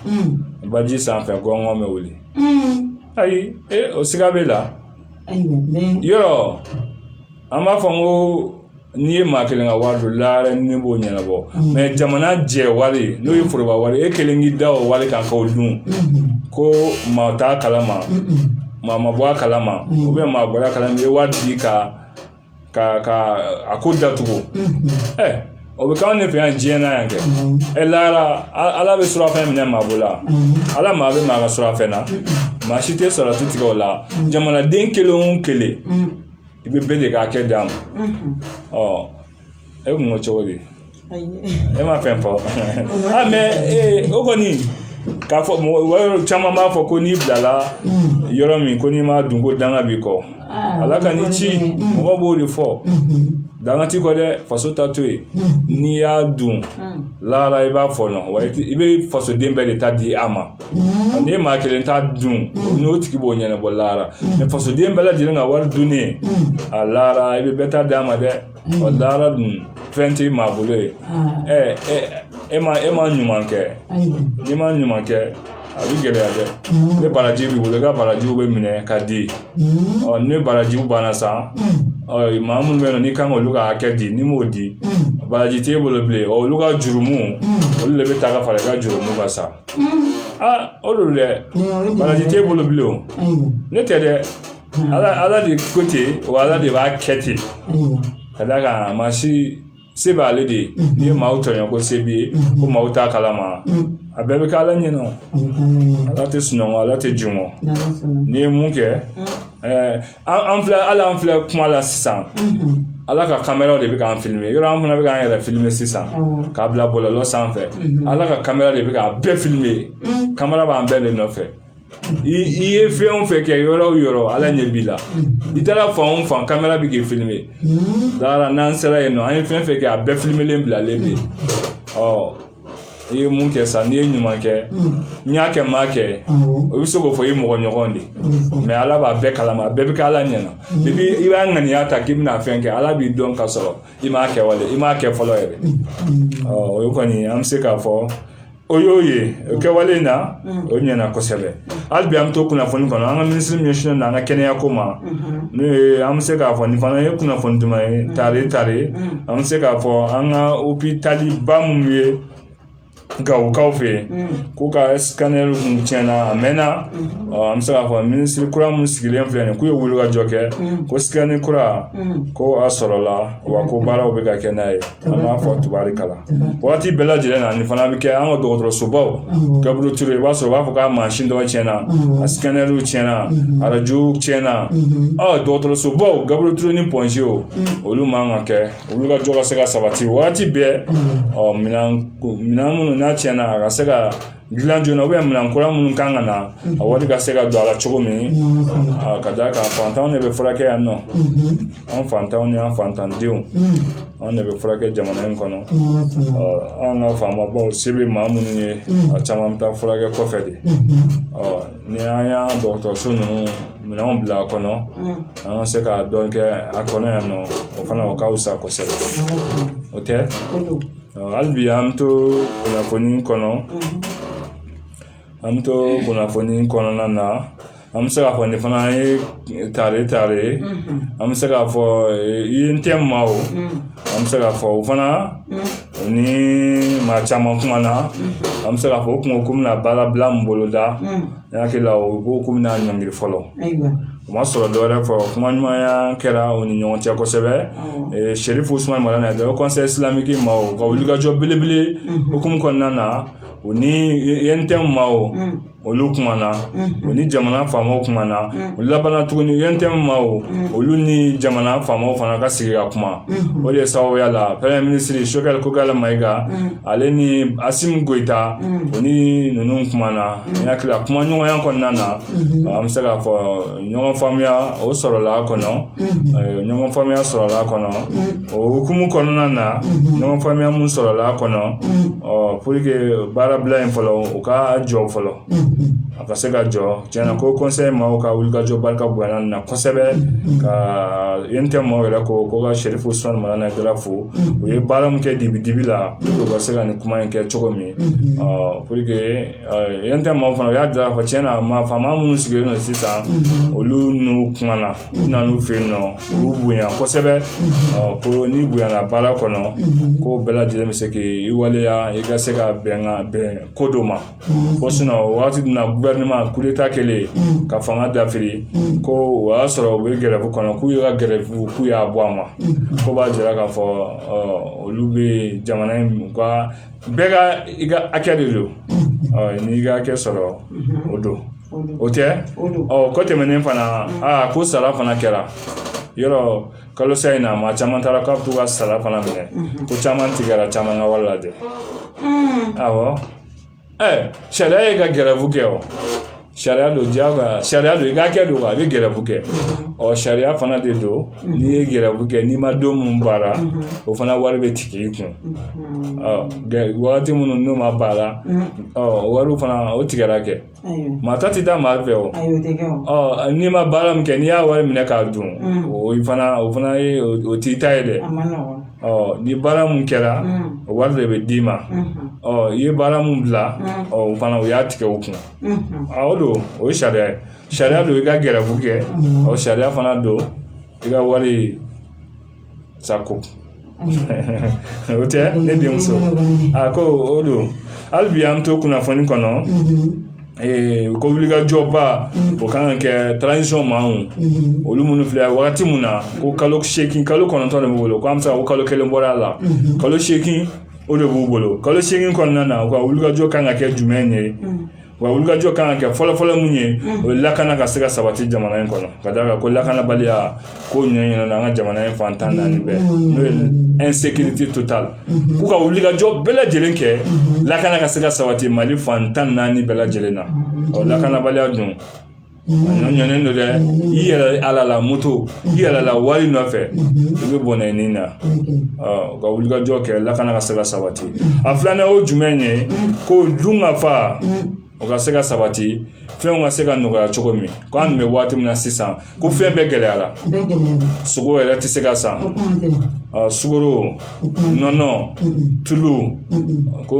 baji sanfɛ gɔngɔn bɛ wuli ayi o siga b'e la yɔrɔ an b'a fɔ ko n'i ye maa kelen ka wari dun lara ni ne b'o ɲɛnabɔ mɛ jamana jɛ wari n'o ye foroba wari ye e kelen k'i da o wari kan k'o dun ko maa t'a kalama maa ma bɔ a kalama ou bien maa bɔra a kalama i ye wari di ka ka ka a ko datugu ɛ o bɛ k'anw de fɛ yan diɲɛ na yan kɛ ɛ lara ala bɛ surafɛn minɛ maa bolo la ala mago bɛ maa ka surafɛn na maa si tɛ sɔrɔti tigɛ o la jamanaden kelen o kelen i bɛ bɛɛ de ka hakɛ d'a ma ɔ e kun ko cogo di ne ma fɛn fɔ mɛ o kɔni k'a fɔ mɔgɔ caman b'a fɔ ko n'i bilala yɔrɔ min ko n'i m'a dun ko danga b'i kɔ ala ka ni ci mɔgɔ b'o de fɔ danga t'i kɔ dɛ faso ta to yen n'i y'a dun lahara i b'a fɔ nɔ wa i bɛ fasoden bɛɛ de ta di a ma n'i ye maa kelen ta dun n'o tigi b'o ɲɛnabɔ lahara mɛ fasoden bɛɛ lajɛlen ka wari dunnen a lahara i bɛ bɛɛ ta d'a ma dɛ ɔ lahara dun fɛn tɛ maa bolo ye ɛ e ma e ma ɲuman kɛ n'i ma ɲuman kɛ a bɛ gɛlɛya dɛ ni baraji b'i bolo i ka barajiw bɛ minɛ ka di ɔ ni barajiw banna san ɔ maa minnu bɛ yen nɔ n'i kan k'olu ka hakɛ di n'i m'o di baraji t'e bolo bilen ɔ olu ka jurumu olu de bɛ ta ka fara i ka jurumu kan sa aa o don dɛ baraji t'e bolo bilen o ne tɛ dɛ ala ala de ko ten wa ala de b'a kɛ ten ka d'a kan a ma si se b'ale de ye n'i ye maaw tɔɲɔ ko se b'i ye ko maaw t'a kalama a bɛɛ bɛ kɛ ala ɲɛna o ala tɛ sunɔgɔ ala tɛ jingɔn n'i ye mun kɛ ɛɛ an an filɛ hali an filɛ kuma la sisan ala ka kameraw de bɛ k'an filime yɔrɔ an fana bɛ k'an yɛrɛ filime sisan k'a bila bɔlɔlɔ sanfɛ ala ka kamera de bɛ k'a bɛɛ filime kamera b'an bɛɛ de nɔfɛ i ye fɛn o fɛn kɛ yɔrɔ o yɔrɔ ala ɲɛ b'i la i taara fan o fan kamera bɛ k'i filime lahara n'an sera yen nɔ an ye fɛn fɛn kɛ a bɛɛ filimelen bilalen bɛ yen ɔ i ye mun kɛ sa n'i ye ɲuman kɛ n y'a kɛ n m'a kɛ o bɛ se k'o fɔ i mɔgɔ ɲɔgɔn de mɛ ala b'a bɛɛ kalama a bɛɛ bɛ kɛ ala ɲɛna depi i b'a ŋaniya ta k'i bɛna fɛn kɛ ala b'i dɔn ka sɔrɔ i m'a kɛwale i m'a kɛ fɔlɔ yɛrɛ ɔ o kɔni an bɛ se k'a fɔ O y'o ye o kɛwale in na o ɲɛna kosɛbɛ hali bi an bɛ to kunnafoni kɔnɔ an ka minisiri min ɲɛsinnen don an ka kɛnɛya ko ma n'o ye an bɛ se k'a fɔ nin fana ye kunnafoni duman ye tare tare an bɛ se k'a fɔ an ka opitaliba minnu ye gawokaw fɛ k'u ka sikanɛri kun tiɲɛna a mɛnna an bɛ se k'a fɔ minisiri kura minnu sigilen filɛ nin k'u ye wulikajɔ kɛ ko sikanɛri kura ko a sɔrɔla wa ko baaraw bɛ ka kɛ n'a ye an b'a fɔ tubarikala waati bɛɛ lajɛlen na nin fana bɛ kɛ an ka dɔgɔtɔrɔsobaw gabiriyɛli ture i b'a sɔrɔ u b'a fɔ k'a mansin dɔ tiɲɛna a sikanɛriw tiɲɛna arajo tiɲɛna ɔ dɔgɔtɔrɔsobaw gabiriyɛli ture ni pɔnze o olu man kan ka kɛ wulikajɔ ka se ka sabati waati bɛɛ ɔ minɛn minnu n'a tiɲɛna a ka se ka dilan joona minɛn kura minnu kan ka na a wari ka se ka don a la cogo min ka d'a kan fantanw de bɛ furakɛ yan nɔ an fantanw ni an fantandenw anw de bɛ furakɛ jamana in kɔnɔ an ka faamabaw se bɛ maa minnu ye a caman bɛ taa furakɛ kɔfɛ de ni an y'an dɔgɔtɔrɔso ninnu minɛnw bila a kɔnɔ an ka se ka dɔ kɛ a kɔnɔ yan nɔ o fana o ka fisa kosɛbɛ o tɛ hali bi an bɛ to kunnafoni kɔnɔ an bɛ to kunnafoni kɔnɔna na an bɛ se k'a fɔ nin fana ye tare tare ye an bɛ se k'a fɔ UNTM maaw an bɛ se k'a fɔ o fana ni maa caman kumana an bɛ se k'a fɔ u kun ko k'u bɛna baarabila min boloda n hakili la u ko k'u bɛna ɲɔngiri fɔlɔ o ma sɔrɔ dɔwɛrɛ fɔ kuma ɲumanya kɛra u ni ɲɔgɔn cɛ kosɛbɛ Chérif Ousmane Madani conseil islamique maaw ka wulikajɔ belebele hukumu kɔnɔna na u ni UNTM maaw olu kumana u ni jamana faamaw kumana u labanna tuguni UNTM maaw olu ni jamana faamaw fana ka sigi ka kuma o de ye sababuya la premier ministre Choguel Kokalla Maïga ale ni Assimi Goïta u ni ninnu kumana n hakili la kuma ɲɔgɔnya kɔnɔna na an bɛ se k'a fɔ ɲɔgɔn faamuya o sɔrɔla a kɔnɔ ɲɔgɔn faamuya sɔrɔla a kɔnɔ o hukumu kɔnɔna na ɲɔgɔn faamuya min sɔrɔla a kɔnɔ pour que baarabila in fɔlɔ u k'a jɔ fɔlɔ a ka se ka jɔ tiɲɛna ko conseil maaw ka wulikajɔ barika bonyana na kosɛbɛ ko UNTM maaw yɛrɛ ko ka Chérif Ousmane Madani Haïdara fo u ye baara min kɛ dibi dibi la u ka se ka nin kuma in kɛ cogo min pour UNTM maaw fana u y'a jira k'a fɔ tiɲɛna faama minnu sigilen don sisan olu n'u kumana u nana u fɛ yen nɔ u b'u bonya kosɛbɛ ko n'i bonyana baara kɔnɔ ko bɛɛ lajɛlen bɛ se k'i waleya i ka se ka bɛn ko dɔ ma ko wagati min na coup d'état kɛlen ka fanga dafiri ko o y'a sɔrɔ u bɛ gɛrɛbu kɔnɔ k'u ye ka gɛrɛbu k'u y'a bɔ a ma k'o b'a jira k'a fɔ olu bɛ jamana in ka bɛɛ ka i ka hakɛ de don n'i ka hakɛ sɔrɔ o don o tɛ ɔ kɔ tɛmɛnen fana aa ko sara fana kɛra yɔrɔ kalosa in na maa caman taara k'u bɛ t'u ka sara fana minɛ ko caman tigɛra caman ka wari la dɛ awɔ ɛ sariya ye ka gɛrɛbu kɛ o sariya don jagoya sariya don i ka kɛ don a bɛ gɛrɛbu kɛ ɔ sariya fana de don n'i ye gɛrɛbu kɛ n'i ma don minnu baara o fana wari bɛ tigɛ i kun ɔ wagati minnu n'o ma baara ɔ wariw fana o tigɛra kɛ maa ta tɛ taa maa fɛ o ɔ n'i ma baara min kɛ n'i y'a wari minɛ k'a dun o fana o fana ye o t'i ta ye dɛ ɔ ni baara mun kɛra o wari de bɛ d'i ma ɔ i ye baara mun bila ɔ o fana o y'a tigɛ o kun o don o ye sariya ye sariya don i ka gɛrɛfu kɛ o sariya fana don i ka wari sago o tɛ ne denmuso a ko o don hali bi an to kunnafoni kɔnɔ Eh, ko wulikajɔba o kan ka kɛ transition maaw olu minnu filɛ wagati min na ko kalo seegin kalo kɔnɔntɔn de b'u bolo ko an bɛ se ka ko kalo kelen bɔra a la kalo seegin o de b'u bolo kalo seegin kɔnɔna na u ka wulikajɔ kan ka kɛ jumɛn ye wa wulikajɔ kan ka kɛ fɔlɔfɔlɔ mun ye o ye lakana ka se ka sabati jamana in kɔnɔ ka d'a kan ko lakanabaliya ko ɲɛɲinɛna an ka jamana in fan tan naani bɛɛ n'o ye insécurité totale k'u ka wulikajɔ bɛɛ lajɛlen kɛ lakana ka se ka sabati Mali fan tan naani bɛɛ lajɛlen na ɔ lakanabaliya dun ɲɔɲɔnen don dɛ i yɛrɛ halala moto i halala wari nɔfɛ i bɛ bɔnɛ i nin na ka wulikajɔ kɛ lakana ka se ka sabati a filanan o ye jumɛn ye ko dunkafa o ka se ka sabati fɛnw ka se ka nɔgɔya cogo min ko anw bɛ waati min na sisan ko fɛn bɛɛ gɛlɛyara sogo yɛrɛ tɛ se ka san sukaro nɔnɔ tulu ko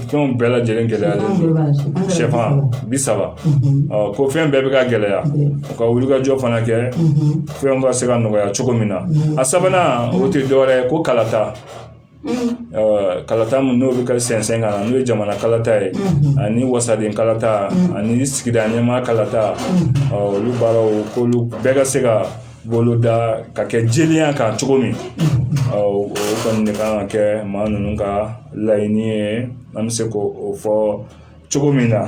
fɛnw bɛɛ lajɛlen gɛlɛyalen don sɛfan bi saba ko fɛn bɛɛ bɛ ka gɛlɛya u ka wulikajɔ fana kɛ fɛnw ka se ka nɔgɔya cogo min na a sabanan o tɛ dɔwɛrɛ ye ko kalata kalata min n'o bɛ ka sɛnsɛn ka na n'o ye jamana kalata ye ani wasaden kalata ani sigida ɲɛmaa kalata olu baaraw k'olu bɛɛ ka se ka boloda ka kɛ jɛlenya kan cogo min ɔ o kɔni de kan ka kɛ maa ninnu ka laɲini ye an bɛ se k'o fɔ cogo min na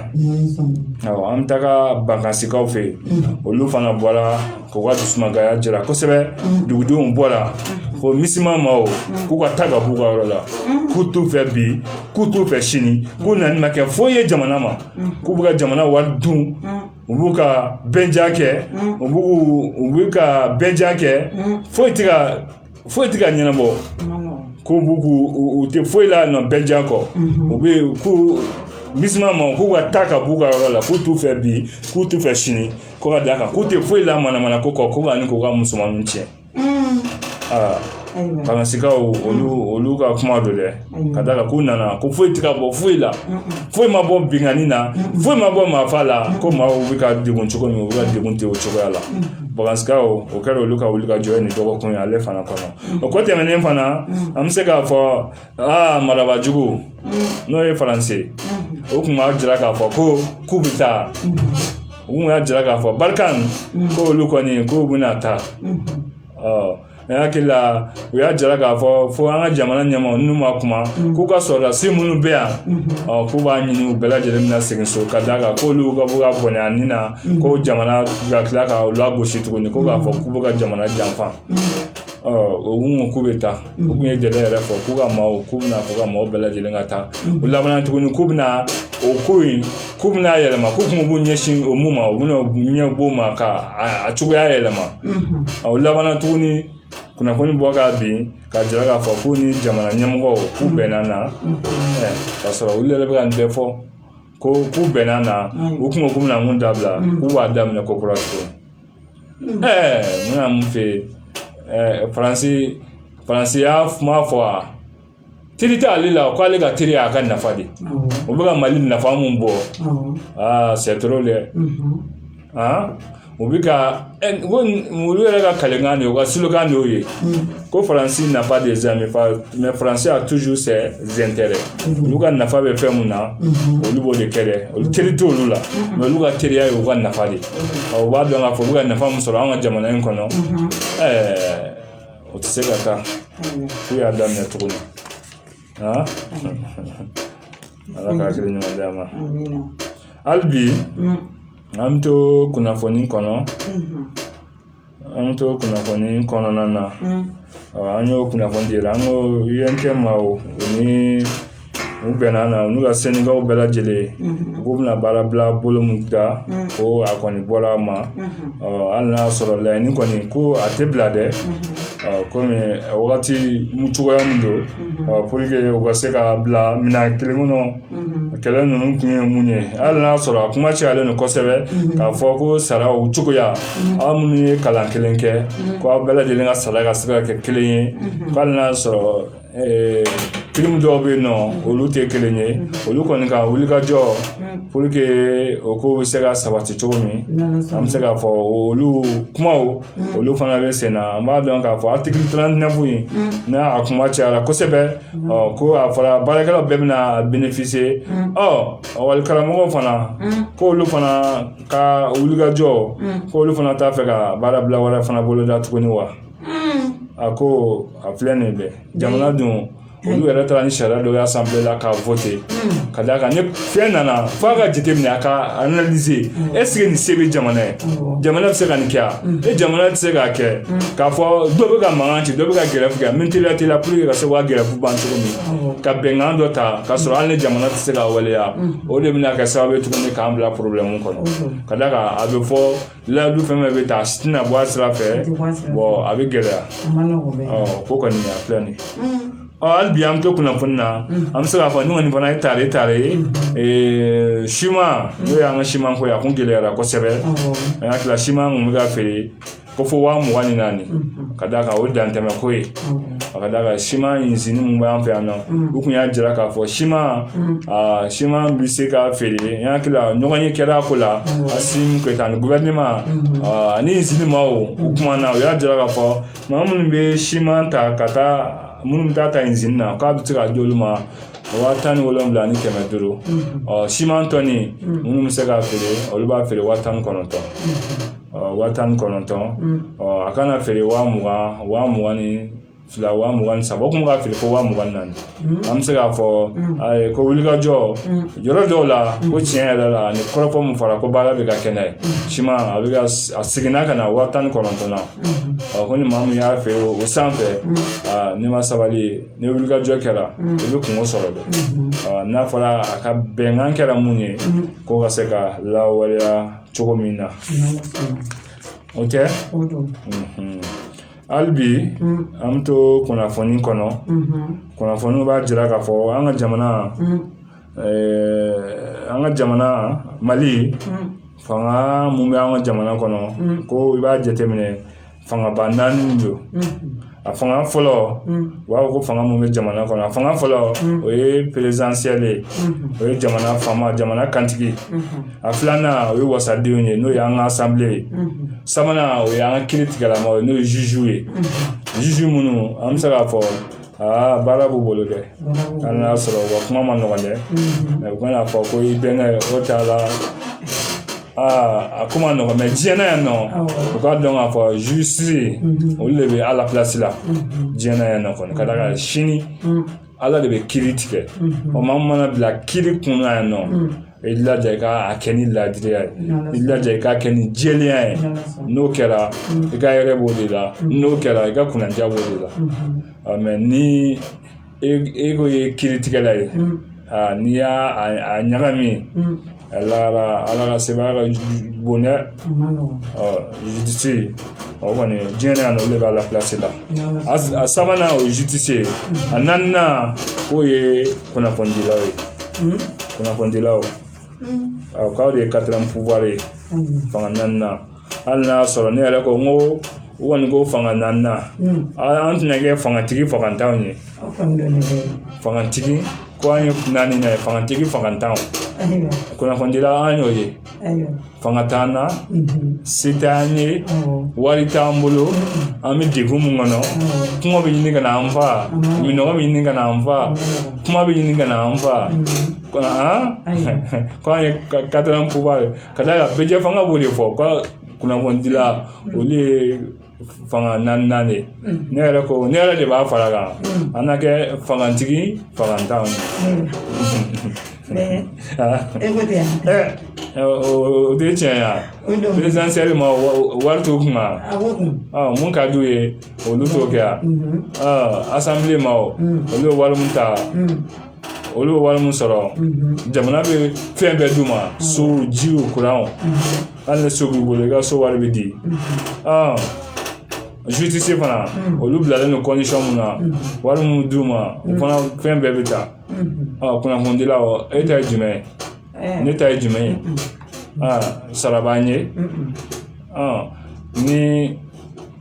an bɛ taga Bankasikaw fɛ yen olu fana bɔra k'u ka dusumangoya jira kosɛbɛ dugudenw bɔra ko misima ma o k'u ka taa ka b'u ka yɔrɔ la k'u t'u fɛ bi k'u t'u fɛ sini k'u nani ma kɛ foyi ye jamana ma k'u bɛ ka jamana wari dun u b'u ka bɛnja kɛ u b'u b'u ka bɛnja kɛ foyi tɛ ka ɲɛnabɔ ko b'u k'u tɛ foyi la nɔ bɛnja kɔ u bɛ yen ko misima ma k'u ka taa ka b'u ka yɔrɔ la k'u t'u fɛ bi k'u t'u fɛ sini ko ka d'a kan k'u tɛ foyi la manamana ko kɔ ko ani k'u ka musomanninw tiɲɛ aa bankasikaw olu olu ka kuma don dɛ ka d'a kan k'u nana ko foyi tɛ ka bɔ foyi la foyi ma bɔ binkanni na foyi ma bɔ maafa la ko maaw bɛ ka degun cogo min u bɛ ka degun ten o cogoya la bankasikaw o kɛra olu ka wulikajɔ ye nin dɔgɔkun ye ale fana kɔnɔ o ko tɛmɛnen fana an bɛ se k'a fɔ aa marabajugu n'o ye faransi ye o tun b'a jira k'a fɔ ko k'u bɛ taa u kun y'a jira k'a fɔ barikani ko olu kɔni k'u bɛna taa ne hakili la u y'a jira k'a fɔ fo an ka jamana ɲɛmɔgɔ n'u ma kuma k'u ka sɔrɔdasi minnu bɛ yan k'u b'a ɲini u bɛɛ lajɛlen bɛna segin so ka d'a kan k'olu ka bɔ ka bɔnɛ a nin na ko jamana ka tila ka u lagosi tuguni ko k'a fɔ k'u bɛ ka jamana janfa ɔ o kun k'u bɛ taa u kun ye jɛlen yɛrɛ fɔ k'u ka maaw k'u bɛna fɔ ka maaw bɛɛ lajɛlen ka taa u laban tuguni k'u bɛna o ko in k'u bɛna yɛlɛma k'u kun b'u ɲɛsin o mun ma u bɛna ɲɛbɔ o ma ka a cogoya yɛlɛma o laban tuguni kunnafoni bɔ ka bin ka jira k'a fɔ k'u ni jamana ɲɛmɔgɔw k'u bɛnna na ka sɔrɔ olu yɛrɛ bɛ ka nin bɛɛ fɔ ko k'u bɛnna na u kun ko k'u bɛna mun dabila k'u b'a daminɛ kokura tuguni ɛɛ n bɛna mun f'i ye ɛɛ faransi faransi y'a kuma fɔ wa teri t'ale la o k'ale ka teri y'a ka nafa de o bɛ ka mali nafa mun bɔ aa c'est trop dɛ aa u bɛ ka olu yɛrɛ ka kalenkan de ye u ka slogan de y'o ye ko faransi n'a pas des amis mais faransi a ses intérêts olu ka nafa bɛ fɛn mun na olu b'o de kɛ olu teri t' olu la mais olu ka teriya ye u ka nafa de ye u b'a dɔn k'a fɔ u bɛ ka nafa min sɔrɔ an ka jamana in kɔnɔ ɛɛ o tɛ se ka taa k'u y'a daminɛ cogo min aa ala ka hakili ɲuman d'a ma hali bi an bɛ to kunnafoni kɔnɔ an bɛ to kunnafoni kɔnɔna na an y'o kunnafoni dira an ko untm o ni u bɛnna na n'u ka sɛndikaw bɛɛ lajɛlen u k'u bɛna baara bila bolo min da ko a kɔni bɔra a ma hali n'a sɔrɔ laɲini kɔni ko a tɛ bila dɛ kɔmi wagati cogoya min don pour que u ka se ka bila minan kelen kɔnɔ a kɛlɛ ninnu kun ye mun ye hali n'a sɔrɔ a kuma cayalen don kosɛbɛ k'a fɔ ko sara o cogoya aw minnu ye kalan kelen kɛ ko aw bɛɛ lajɛlen ka sara ka se ka kɛ kelen ye hali n'a sɔrɔ pirimu dɔw bɛ yen nɔ olu tɛ kelen ye olu kɔni ka wulikajɔ pour que o ko bɛ se ka sabati cogo min an bɛ se k'a fɔ olu kumaw olu fana bɛ sen na an b'a dɔn k'a fɔ article 39 in n'a kuma cayara kosɛbɛ ko a fɔra baarakɛlaw bɛɛ bɛna bénéficier wali karamɔgɔw fana k'olu fana ka wulikajɔ k'olu fana t'a fɛ ka baarabila wɛrɛ fana boloda tuguni wa a ko a filɛ nin bɛɛ jamana dun olu yɛrɛ taara ni sariya dɔ ye assemblée la k'a voter ka d'a kan ni fɛn nana f'a k'a jateminɛ a k'a analyser est-ce que nin se bɛ jamana ye jamana bɛ se ka nin kɛ a ni jamana tɛ se k'a kɛ k'a fɔ dɔ bɛ ka mankan ci dɔ bɛ ka gɛrɛfu kɛ min teliya teliya pour que ka se ka gɛrɛfu ban cogo min ka bɛnkan dɔ ta k'a sɔrɔ hali ni jamana tɛ se k'a waleya o de bɛna kɛ sababu ye tuguni k'an bila problème kɔnɔ ka d'a kan a bɛ fɔ layidu fɛn fɛn bɛ ta a si tɛna bɔ a sira fɛ a bɛ gɛlɛya ko kɔni a filɛ nin ye hali bi an bɛ to kunnafoni na an bɛ se k'a fɔ nin kɔni fana ye tare tare ye siman n'o y'an ka siman ko ye a kun gɛlɛyara kosɛbɛ an hakili la siman kun bɛ ka feere ko fo waa mugan ni naani ka d'a kan o ye dantɛmɛ ko ye a ka d'a kan siman usine mun b'an fɛ yan nɔ u kun y'a jira k'a fɔ siman a siman bɛ se ka feere n hakili la ɲɔgɔnye kɛra a ko la assimi goïta ani gouvernement ani usine maaw u kumana u y'a jira k'a fɔ maa minnu bɛ siman ta ka taa minnu bɛ taa usine na k'a bɛ se ka di olu ma waa tan ni wolonwula ni kɛmɛ duuru ɔ siman tɔni minnu bɛ se ka feere olu b'a feere waa tan ni kɔnɔntɔn waa tan ni kɔnɔntɔn a kana feere waa mugan waa mugan ni fila waa mugan ni saba o kun ka feere fo waa mugan ni naani an bɛ se k'a fɔ a ye ko wulikajɔ yɔrɔ dɔw la ko tiɲɛ yɛrɛ la ni kɔrɔfɔ mun fɔra ko baara bɛ ka kɛ n'a ye siman a bɛ ka a seginna ka na waa tan ni kɔnɔntɔn na ɔ ko ni maa min y'a feere o sanfɛ aa n'i ma sabali ni wulikajɔ kɛra i bɛ kunko sɔrɔ dɛ ɔ n'a fɔra a ka bɛnkan kɛra mun ye k'o ka se ka lawaleya cogo min na o tɛ hali bi an bɛ to kunnafoni kɔnɔ kunnafoni b'a jira k'a fɔ an ka jamana an ka jamana mali fanga mun bɛ an ka jamana kɔnɔ ko i b'a jateminɛ fangaba naani don a fanga fɔlɔ u b'a fɔ ko fanga mun bɛ jamana kɔnɔ a fanga fɔlɔ o ye présidentiel ye o ye jamana faama jamana kantigi a filanan o ye wasadenw ye n'o ye an ka assemblée ye sabanan o ye an ka kiritigɛlamaw ye n'o ye juge ye juge minnu an bɛ se k'a fɔ aa baara b'u bolo dɛ hali n'a sɔrɔ u ka kuma man nɔgɔn dɛ mɛ u kana fɔ ko i bɛnkɛ o t'a la aa a ko man nɔgɔn mɛ diɲɛ na yan nɔ u k'a dɔn k'a fɔ justice olu de bɛ ala pilasi la diɲɛ na yan nɔ kɔni ka d'a kan sini ala de bɛ kiri tigɛ o maa min mana bila kiri kun na yan nɔ I laja i ka a kɛ ni laadiriya ye i laja i k'a kɛ ni jɛlenya ye n'o kɛra i ka hɛrɛ b'o de la n'o kɛra i ka kunnandiya b'o de la mɛ ni e ko ye kiritigɛla ye n'i y'a ɲagami ala ka sebaya ka bon dɛ justice o kɔni diɲɛ na yan nɔ olu b'a la a sabanan o ye justice ye a naaninan k'o ye kunnafonidilaw ye kunnafonidilaw o k'aw de ye quatrième pouvoir ye fanga naaninan hali n'a y'a sɔrɔ ne yɛrɛ ko n ko u kɔni ko fanga naaninan an tɛna kɛ fangatigi fagantanw ye fangatigi ko an ye naaninan ye fangatigi fagantanw kunnafonidila an y'o ye ayiwa fanga t'an na se t'an ye wari t'an bolo an bɛ degun min kɔnɔ kuma bɛ ɲini ka na an fa minɔgɔ bɛ ɲini ka na an fa kuma bɛ ɲini ka na an fa ko an ye quatrième pouvoir ye ka d'a kan bɛɛ fanga b'o de fɔ ko kunnafonidila olu ye fanga naaninan ye ne yɛrɛ de b'a fara kan an na kɛ fangatigi fangantanw o de tiɲɛ ya présidentiel ma wari t'o kun mun ka d'u ye olu t'o kɛ yan assemblée ma olu ye wari min ta olu bɛ wari min sɔrɔ jamana bɛ fɛn bɛɛ d'u ma so jiw kuranw hali ni so b'i bolo i ka so wari bɛ di justice fana olu bilalen don condition mun na wari min d'u ma u fana fɛn bɛɛ bɛ ta kunnafonidila o e ta ye jumɛn ye eh. ne ta ye jumɛn ye sara b'an ye ni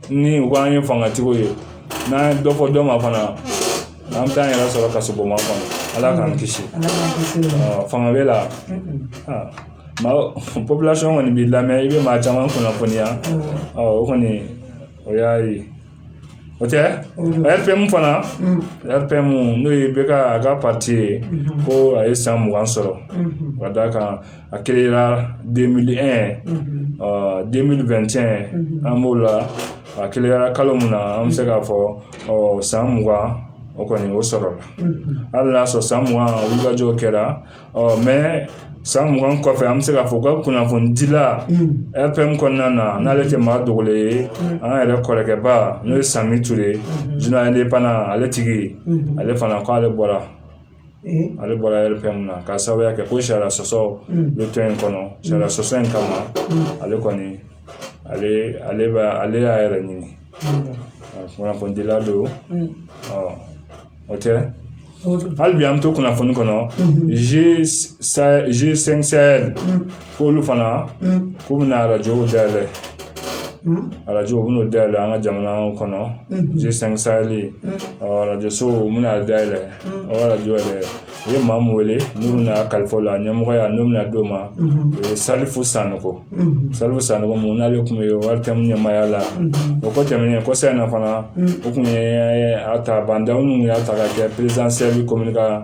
ni u k'an ye fangatigiw ye n'an ye dɔ fɔ dɔ ma fana an bɛ taa an yɛrɛ sɔrɔ kasobonba kɔnɔ ala k'an kisi fanga bɛ la population kɔni b'i lamɛn i bɛ maa caman kunnafoniya o kɔni o y'a ye o tɛ RPM fana RPM n'o ye IBK ka parti ye ko a ye san mugan sɔrɔ ka d'a kan a créera deux mille un deux mille vingt et un an b'o la a créera kalo min na an bɛ se k'a fɔ ɔ san mugan o kɔni o sɔrɔla hali n'a sɔrɔ san mugan wulikajɔw kɛra ɔ mɛ san mugan kɔfɛ an bɛ se k'a fɔ u ka kunnafonidila RPM kɔnɔna na n'ale tɛ maa dogolen ye an yɛrɛ kɔrɔkɛba n'o ye Sambi Ture journal ale tigi ale fana k' ale bɔra ale bɔra RPM na k'a sababuya kɛ ko sariya sɔsɔ bɛ tɔn in kɔnɔ sariya sɔsɔ in kama ale kɔni ale ale bɛ ale y'a yɛrɛ ɲini kunnafonidila don o tɛ hali bi an bɛ to kunnafoni kɔnɔ G5 Sahel K'olu fana k'u bɛna arajow dayɛlɛ arajo u bɛn'o dayɛlɛ an ka jamana kɔnɔ G5 Sahel arajoso u bɛna dayɛlɛ o arajo yɛrɛ u ye maa min wele n'u bɛna kalifa o la ɲɛmɔgɔya n'u bɛna d'o ma o ye salifu sanɔgɔ salifu sanɔgɔ mun n'ale tun bɛ ORTM ɲɛmaaya la o kɔ tɛmɛnen kɔsa in na fana u tun ye a ta ba ndaw ninnu y'a ta ka kɛ présidence cellule communica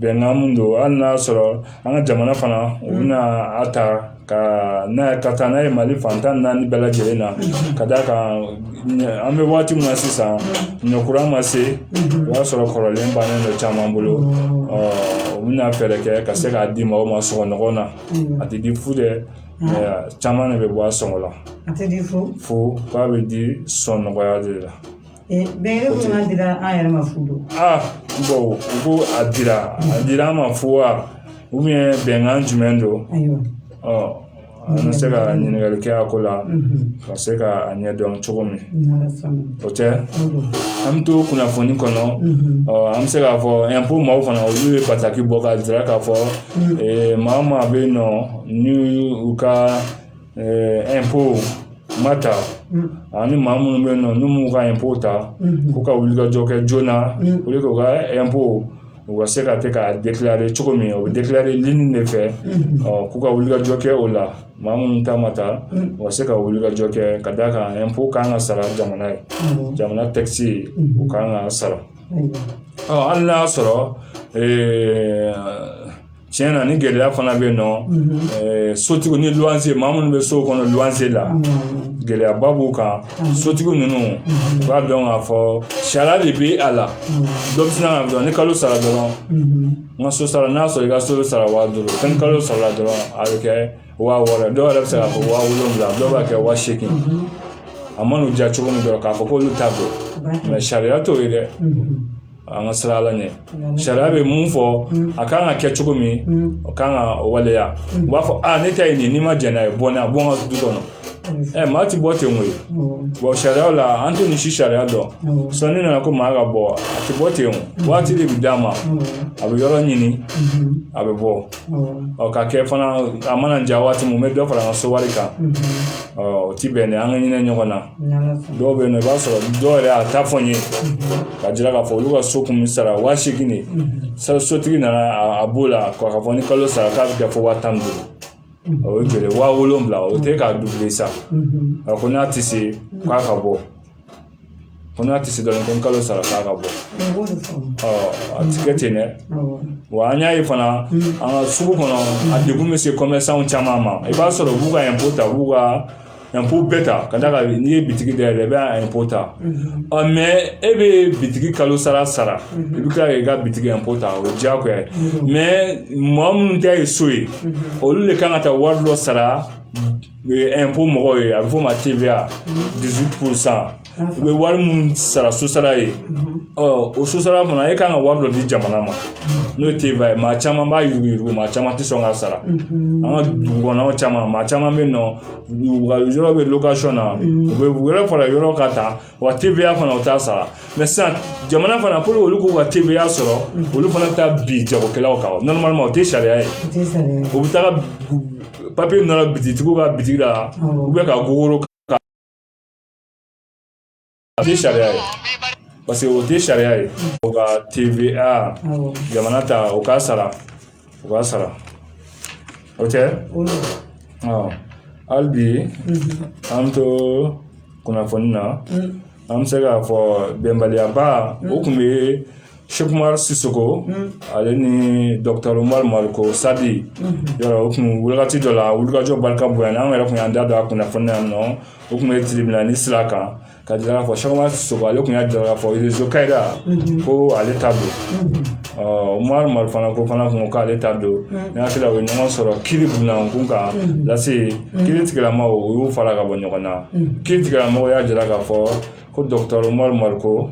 Bɛnkan min don hali n'a y'a sɔrɔ an ka jamana fana u bɛna a ta ka n'a ye ka taa n'a ye mali fan tan ni naani bɛɛ lajɛlen na ka d'a kan an bɛ waati min na sisan ɲɔ kura ma se o y'a sɔrɔ kɔrɔlen bannen dɔ caman bolo ɔ u bɛna fɛɛrɛ kɛ ka se k'a di maaw ma sɔngɔ nɔgɔn na a tɛ di fu dɛ caman de bɛ bɔ a sɔngɔ la a tɛ di fu nk'a bɛ di sɔnɔgɔya de la Eh, bɛɛ ko n'a dira an yɛrɛ ma fu don aa u ko a dira a dira an ma fu wa ou bien bɛnkan jumɛn don ayiwa ɔ an bɛ se ka ɲininkali kɛ a ko la ka se ka a ɲɛdɔn cogo min o tɛ an bɛ to kunnafoni kɔnɔ an bɛ se k'a fɔ ɛnpo maaw fana olu ye bataki bɔ ka jira k'a fɔ maa maa bɛ yen nɔ ni u ka ma ta ani maa minnu bɛ yen nɔ n'u m'u ka ɛnpo ta k'u ka wulikajɔ kɛ joona o de k'u ka ɛnpo u ka se ka kɛ k'a déclarer cogo min o bɛ déclarer ligne de fɛ k'u ka wulikajɔ kɛ o la maa minnu ta ma ta u ka se ka wulikajɔ kɛ ka d'a kan ɛnpo kan ka sara jamana ye jamana takisiw kan ka sara hali n'a y'a sɔrɔ tiɲɛ na ni gɛlɛya fana bɛ yen nɔ mhm. sotigiw ni luwanse maa minnu bɛ so kɔnɔ luwanse la mhm. gɛlɛyaba b'u kan mhm. sotigi ninnu u b'a dɔn k'a fɔ sariya de bɛ a la dɔ bɛ sina ka dɔn ni kalo sara dɔrɔn n ka so sara n'a sɔrɔ i ka so bɛ sara waa duuru fɛn ni kalo sara dɔrɔn a bɛ kɛ waa wɔɔrɔ dɔw yɛrɛ bɛ se k'a fɔ waa wolonwula dɔw b'a kɛ waa seegin a man'u diya cogo min dɔrɔn k'a fɔ k'olu ta don mɛ sariya t'o ye dɛ an ka siran ala ɲɛ sariya bɛ mun fɔ a kan ka kɛ cogo min o kan ka waleya u b'a fɔ a ne ta ye nin n'i ma jɛn n'a ye bon a bɔ n ka du kɔnɔ ɛ maa ti bɔ ten koyi bon sariyaw la an tɛ nin si sariya dɔn sinon n'i nana ko maa ka bɔ a ti bɔ ten waati de bi d'a ma a bɛ yɔrɔ ɲini a bɛ bɔ ɔ ka kɛ fana a man'a diya waati mun n bɛ dɔ fara n ka so wari kan ɔ o ti bɛn dɛ an ka hinɛ ɲɔgɔn na dɔw bɛ yen nɔ i b'a sɔrɔ dɔw yɛrɛ y'a ta fɔ n ye k'a jira k'a fɔ olu ka so kun bɛ sara wa seegin de sotigi nana a b'o la k'a fɔ ni kalo sara k'a bɛ kɛ fo waa tan ni duuru o ye joli wa wolonwula o tɛ k'a doublé sa a ko n'a tɛ se k'a ka bɔ ko n'a tɛ se dɔrɔn ko n kalo sara k'a ka bɔ a ti kɛ ten dɛ wa an y'a ye fana an ka sugu kɔnɔ a degun bɛ se commerçant caman ma i b'a sɔrɔ u b'u ka impôt ta u b'u ka impôt bɛɛ ta ka d'a kan n'i ye bitigi dayɛlɛ i bɛ impôt ta mais e bɛ bitigi kalo sara sara i bɛ kila k'i ka bitigi impôt ta o ye diyagoya ye mais mɔgɔ minnu ta ye so ye olu de kan ka taa wari dɔ sara impôt mɔgɔw ye a bɛ f'o ma u bɛ wari minnu sara sosara ye o sosara fana e kan ka wari dɔ di jamana ma n'o ye TVA ye maa caman b'a yuruguyurugu maa caman tɛ sɔn k'a sara an ka dugu kɔnɔ caman maa caman bɛ yen nɔ u ka yɔrɔ bɛ location na u bɛ wari fara yɔrɔ ka taa wa TVA fana u t'a sara mais sisan jamana fana pour olu k'u ka TVA sɔrɔ olu fana bɛ taa bin jagokɛlaw kan normalement o tɛ sariya ye u bɛ taa papiye nɔrɔ bitigitigiw ka bitigi la u bɛ ka gogoro A tɛ sariya ye parce que o tɛ sariya ye o ka TVA jamana ta o k'a sara o k'a sara o tɛ hali bi an bɛ to kunnafoni na an bɛ se k'a fɔ bɛnbaliyaba o tun bɛ Sɛki Umar Sisoko ale ni Doctor Umaru Mariko Sadi yɔrɔ o kun wagati dɔ la wulikajɔ barika bonyana an yɛrɛ kun y'an da don a kunnafoni na yan nɔ o kun bɛ tribunal sira kan k'a jira k'a fɔ Sɛki Umar Sisoko ale kun y'a jira k'a fɔ rezo Kayira ko ale ta don ɔ Umaru Mariko fana kun ko k'ale ta don n hakili la u ye ɲɔgɔn sɔrɔ tribunal k'u kan lase kiritigɛla mɔgɔw u y'u fara ka bɔ ɲɔgɔn na kiritigɛla mɔgɔw y'a jira k'a fɔ ko dɔgɔtɔrɔ Umaru Mariko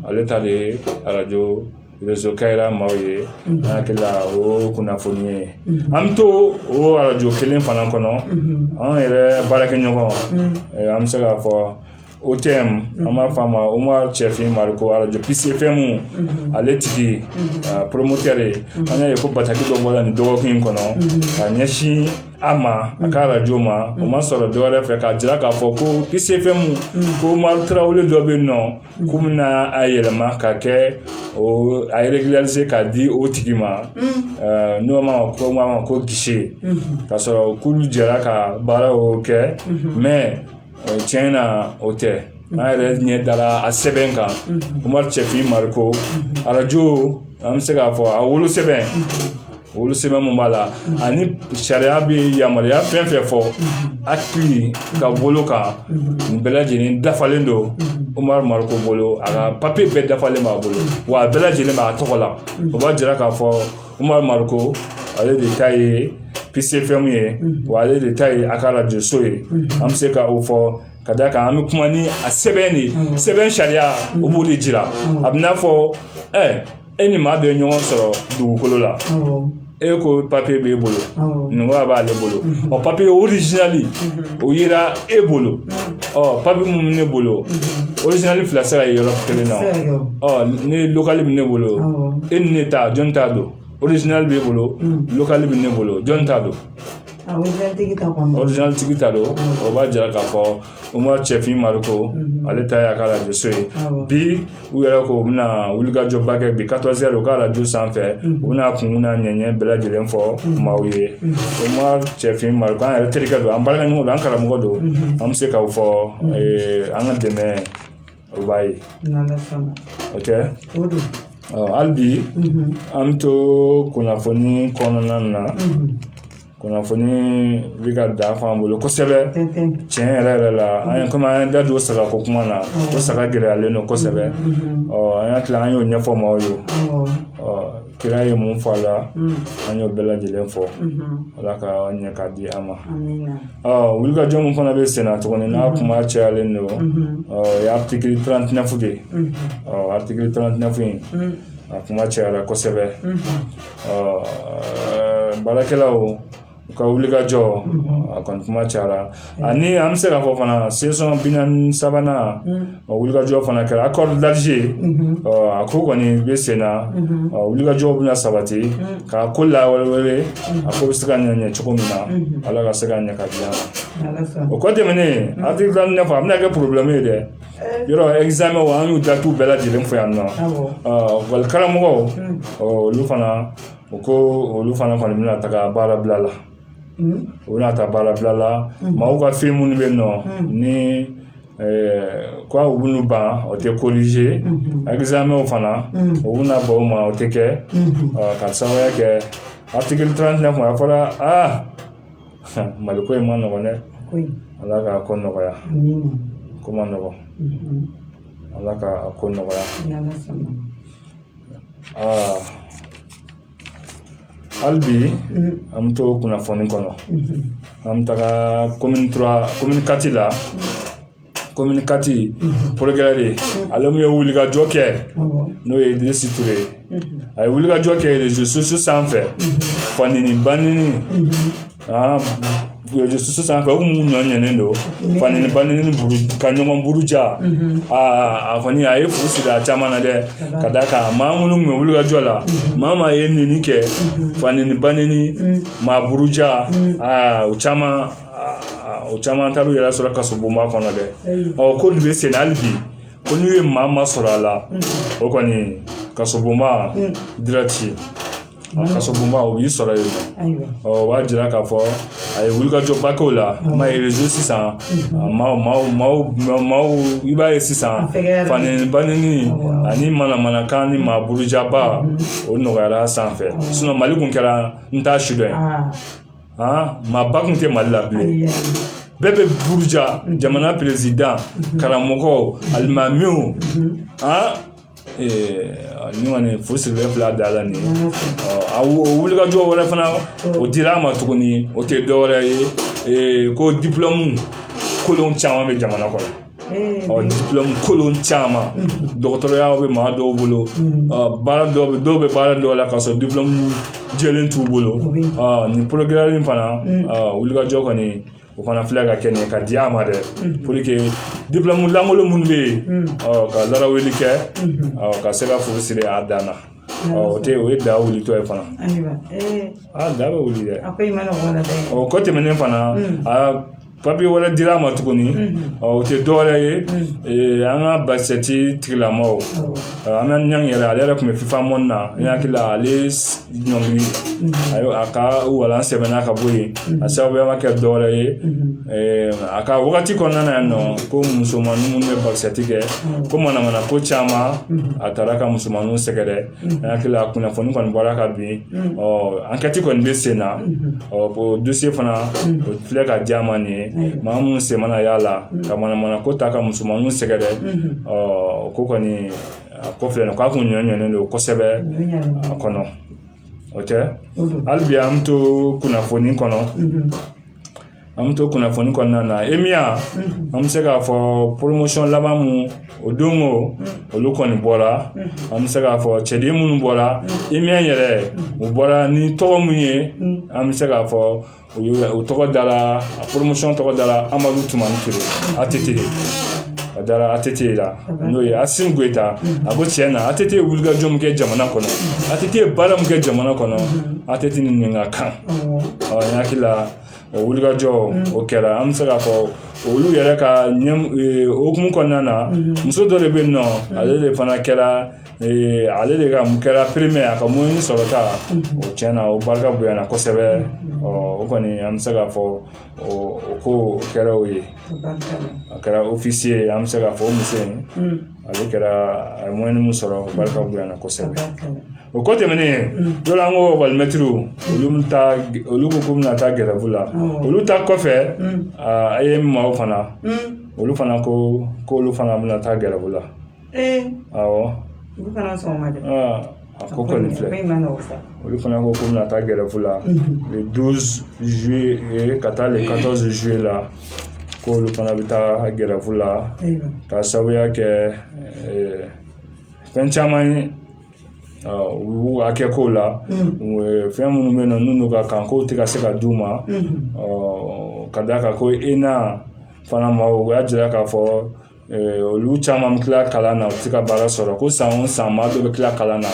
ale ta de ye arajo rezo Kayira maaw ye n hakili la o kunnafoni ye an bɛ to o arajo kelen fana kɔnɔ an yɛrɛ baarakɛ ɲɔgɔn an bɛ se k'a fɔ OTM an b'a fɔ a ma Umaru Cɛfin Mariko arajo Peace FM ale tigi poromotɛre an y'a ye ko bataki dɔ bɔla nin dɔgɔkun in kɔnɔ ka ɲɛsin a ma a ka arajo ma o ma sɔrɔ dɔ wɛrɛ fɛ k'a jira k'a fɔ ko Peace FM ko Umaru Tarawele dɔ bɛ yen nɔ k'u bɛna a yɛlɛma ka kɛ o a régulariser k'a di o tigi ma n'o ma ko ma ko gese ka sɔrɔ k'olu jɛra ka baara o kɛ mais tiɲɛ na o tɛ an yɛrɛ ɲɛ dara a sɛbɛn kan umaru cɛfin mariko arajo an bɛ se k'a fɔ a wolo sɛbɛn wolo sɛbɛn mun b'a la ani sariya bɛ yamaruya fɛn fɛn fɔ hakili ka bolo kan nin bɛɛ lajɛlen dafalen don umaru mariko bolo a ka papiye bɛɛ dafalen b'a bolo wa a bɛɛ lajɛlen b'a tɔgɔ la o b'a jira k'a fɔ Umaru mariko ale de ta ye pisi ɛfɛmu ye wa ale de ta ye a ka arajoso ye an bɛ se ka o fɔ ka da kan an bɛ kuma ni a sɛbɛn de sɛbɛn sariya o b'o de jira a bɛn'a fɔ ɛ e ni maa bɛ ɲɔgɔn sɔrɔ dugukolo la e ko papiye b'e bolo n'o ko a b'ale bolo papiye orizinali o yira e bolo ɔ papiye minnu bɛ ne bolo orizinali fila sira ye yɔrɔ kelen na ɔ ni lɔkali bɛ ne bolo e ni ne ta jɔn ta don orizinali b'e bolo lɔkali bɛ ne bolo jɔn ta don orizinali tigi ta don o b'a jira k'a fɔ umaru cɛfin mariko ale ta y'a ka arajoso ye bi u yɛrɛ ko u bɛna wulikajɔba kɛ bi katɔrizi ɛri u ka arajo sanfɛ u bɛna kun na ɲɛɲɛ bɛɛ lajɛlen fɔ maaw ye umaru cɛfin mariko an yɛrɛ terikɛ don an baarakɛɲɔgɔn don an karamɔgɔ don an bɛ se k'o fɔ an ka dɛmɛ o b'a ye oke hali bi an bɛ to kunnafoni kɔnɔna na kunnafoni bɛ ka dafa an bolo kosɛbɛ tiɲɛ yɛrɛ yɛrɛ la an ye komi an ye da don saga ko kuma na ko saga gɛlɛyalen don kosɛbɛ ɔ an y'a tila an y'o ɲɛfɔ maaw ye kira ye mun fɔ a la an y'o bɛɛ lajɛlen fɔ ala ka ɲɛ k'a di an ma ɔ wulikajɔ min fana bɛ senna tuguni n'a kuma cayalen don ɔ o ye aritikili tarantinɛfu de ye ɔ aritikili tarantinɛfu in a kuma cayara kosɛbɛ baarakɛlaw u ka wulikajɔ a kɔni kuma cayara ani an bɛ se k'a fɔ fana sesiyɔn bi naani sabanan o wulikajɔ fana kɛra akɔri dalize a ko kɔni bɛ sen na wulikajɔ bɛna sabati ka ko lawale a ko bɛ se ka ɲɛ cogo min na ala ka se ka ɲɛ k'a di an ma o kɔ tɛmɛnen aritikili tarantinɛfu a bɛna kɛ porobilɛmu ye dɛ yɔrɔ ɛkizamɛ wa an y'u datiw bɛɛ lajɛlen fɔ yan lakɔli karamɔgɔw olu fana u ko olu fana kɔni bɛna taga baara bila la u bɛna taa baara bila la maaw ka fɛn minnu bɛ yen nɔti ko u b'u ban u tɛ korize ɛkizamɛw fana u bɛna ban o ma o tɛ kɛ ka sababuya kɛ aritikili tarantinɛfu a fɔra aa mali ko in man nɔgɔn dɛ ala ka ko nɔgɔya ko man nɔgɔn ala ka a ko nɔgɔya aa hali bi an bɛ to kunnafoni kɔnɔ an bɛ taga komini kati la komini kati porokirɛri de ale mun ye wulikajɔ kɛ n'o ye idrisa ture ye a ye wulikajɔ kɛ rezo sosiyo sanfɛ fanini banini rezo sosiyo sanfɛ u kun ɲɔɲɔnen don fanini banini buru ka ɲɔgɔn buruja a kɔni a ye fu siri a caman na dɛ ka d'a kan maa minnu kun bɛ wulikajɔ la maa maa ye nini kɛ fanini banini maa buruja aa o caman o caman taara u yɛrɛ sɔrɔ kasobonba kɔnɔ dɛ ɔ ko nin bɛ senna hali bi ko n'u ye maa maa sɔrɔ a la o kɔni kasobonba dirɛki kasobonba o b'i sɔrɔ yen ɔ o b'a jira k'a fɔ a ye wulikajɔba k'o la ma ye rezo sisan maaw maaw maaw maaw i b'a ye sisan fanini banini ani manamanakan ni maa burujaba o nɔgɔyara sanfɛ mali kun kɛra n t'a si dɔn maaba kun tɛ mali la bilen bɛɛ bɛ buruja jamana perezidan karamɔgɔw alimamiw aa fu sirilen filɛ a dan na nin a wulikajɔ wɛrɛ fana o dira a ma tuguni o tɛ dɔwɛrɛ ye ko diplɔmu kolon caman bɛ jamana kɔnɔ ɔ diplɔmu kolon caman dɔgɔtɔrɔya bɛ maa dɔw bolo baara dɔw bɛ dɔw bɛ baara dɔw la k'a sɔrɔ diplɔmu jɛlen t'u bolo nin porogaramu fana wulikajɔ kɔni o fana filɛ ka kɛ nin ka di a ma dɛ pour que diplɔmu lankolon minnu bɛ yen ka larawuli kɛ ka se ka fu siri a dan na o tɛ o ye da wulitɔ ye fana a da bɛ wuli dɛ o kɔ tɛmɛnen fana a papiye wɛrɛ dir'a ma tuguni ɔ o tɛ dɔwɛrɛ ye ee, an ka basikɛti tigilamɔgɔw ɔ, hamane ɲangi yɛrɛ ale yɛrɛ tun bɛ fifa mɔni na n hakili la ale s- ɲɔngiri a y'o- a ka walan sɛbɛnna ka bɔ yen a sababuya ma kɛ dɔwɛrɛ ye ee, a ka wagati kɔnɔna na yan nɔ ko musomanin minnu bɛ basikɛti kɛ ko manamana ko caman a taara ka musomaninw sɛgɛrɛ n hakili la kunnafoni kɔni bɔra ka bin ɔ ankɛti kɔni bɛ sen na o dosiye fana o filɛ ka di a ma nin ye maa minnu sen mana y'a la ka manamana ko ta ka musomaninw sɛgɛrɛ ɔ ko kɔni a ko filɛ nin k'a kun ɲɔɲɔnen don kosɛbɛ a kɔnɔ o tɛ hali bi an bɛ to kunnafoni kɔnɔ an bɛ to kunnafoni kɔnɔna na EMIA an bɛ se k'a fɔ poromosiyɔn laban min o don o olu kɔni bɔra an bɛ se k'a fɔ cɛden minnu bɔra EMIA yɛrɛ u bɔra ni tɔgɔ min ye an bɛ se k'a fɔ u tɔgɔ dara a poromosiyɔn tɔgɔ dara Amadu Tumani Ture ATT a dara ATT la n'o ye Asimi Goyita a ko tiɲɛ na ATT ye wulikajɔ min kɛ jamana kɔnɔ ATT ye baara min kɛ jamana kɔnɔ ATT ni nin ka kan ɔ n hakili la O wulikajɔ o kɛra an bɛ se k'a fɔ olu yɛrɛ ka hukumu kɔnɔna na muso dɔ de bɛ yen nɔ ale de fana kɛra ale de ka mun kɛra pɛrɛmiye a ka moyɛni sɔrɔta o tiɲɛ na o barika bonyana kosɛbɛ ɔ o kɔni an bɛ se k'a fɔ o ko kɛra o ye a kɛra ofisiye an bɛ se k'a fɔ o muso in ale kɛra a ye moyɛni min sɔrɔ barika bonyana kosɛbɛ o ko tɛmɛnen dɔ an ko ekɔli mɛtiriw olu olu ko k'u bɛna taa gɛrɛfu la olu ta kɔfɛ AEEM maaw fana olu fana ko k'olu fana bɛna taa gɛrɛfu la awɔ A ko kɔni filɛ olu fana ko k'u bɛna taa gɛrɛfu la le douze juillet ka taa le quatorze juillet la k'olu fana bɛ taa gɛrɛfu la ka sababuya kɛ fɛn caman ye u hakɛ kow la fɛn minnu bɛ yen nɔ n'u ka kan k'o tɛ ka se ka d'u ma ka d'a kan ko ENA fana ma o y'a jira k'a fɔ olu caman bɛ tila kalan na u tɛ ka baara sɔrɔ ko san o san maa dɔ bɛ tila kalan na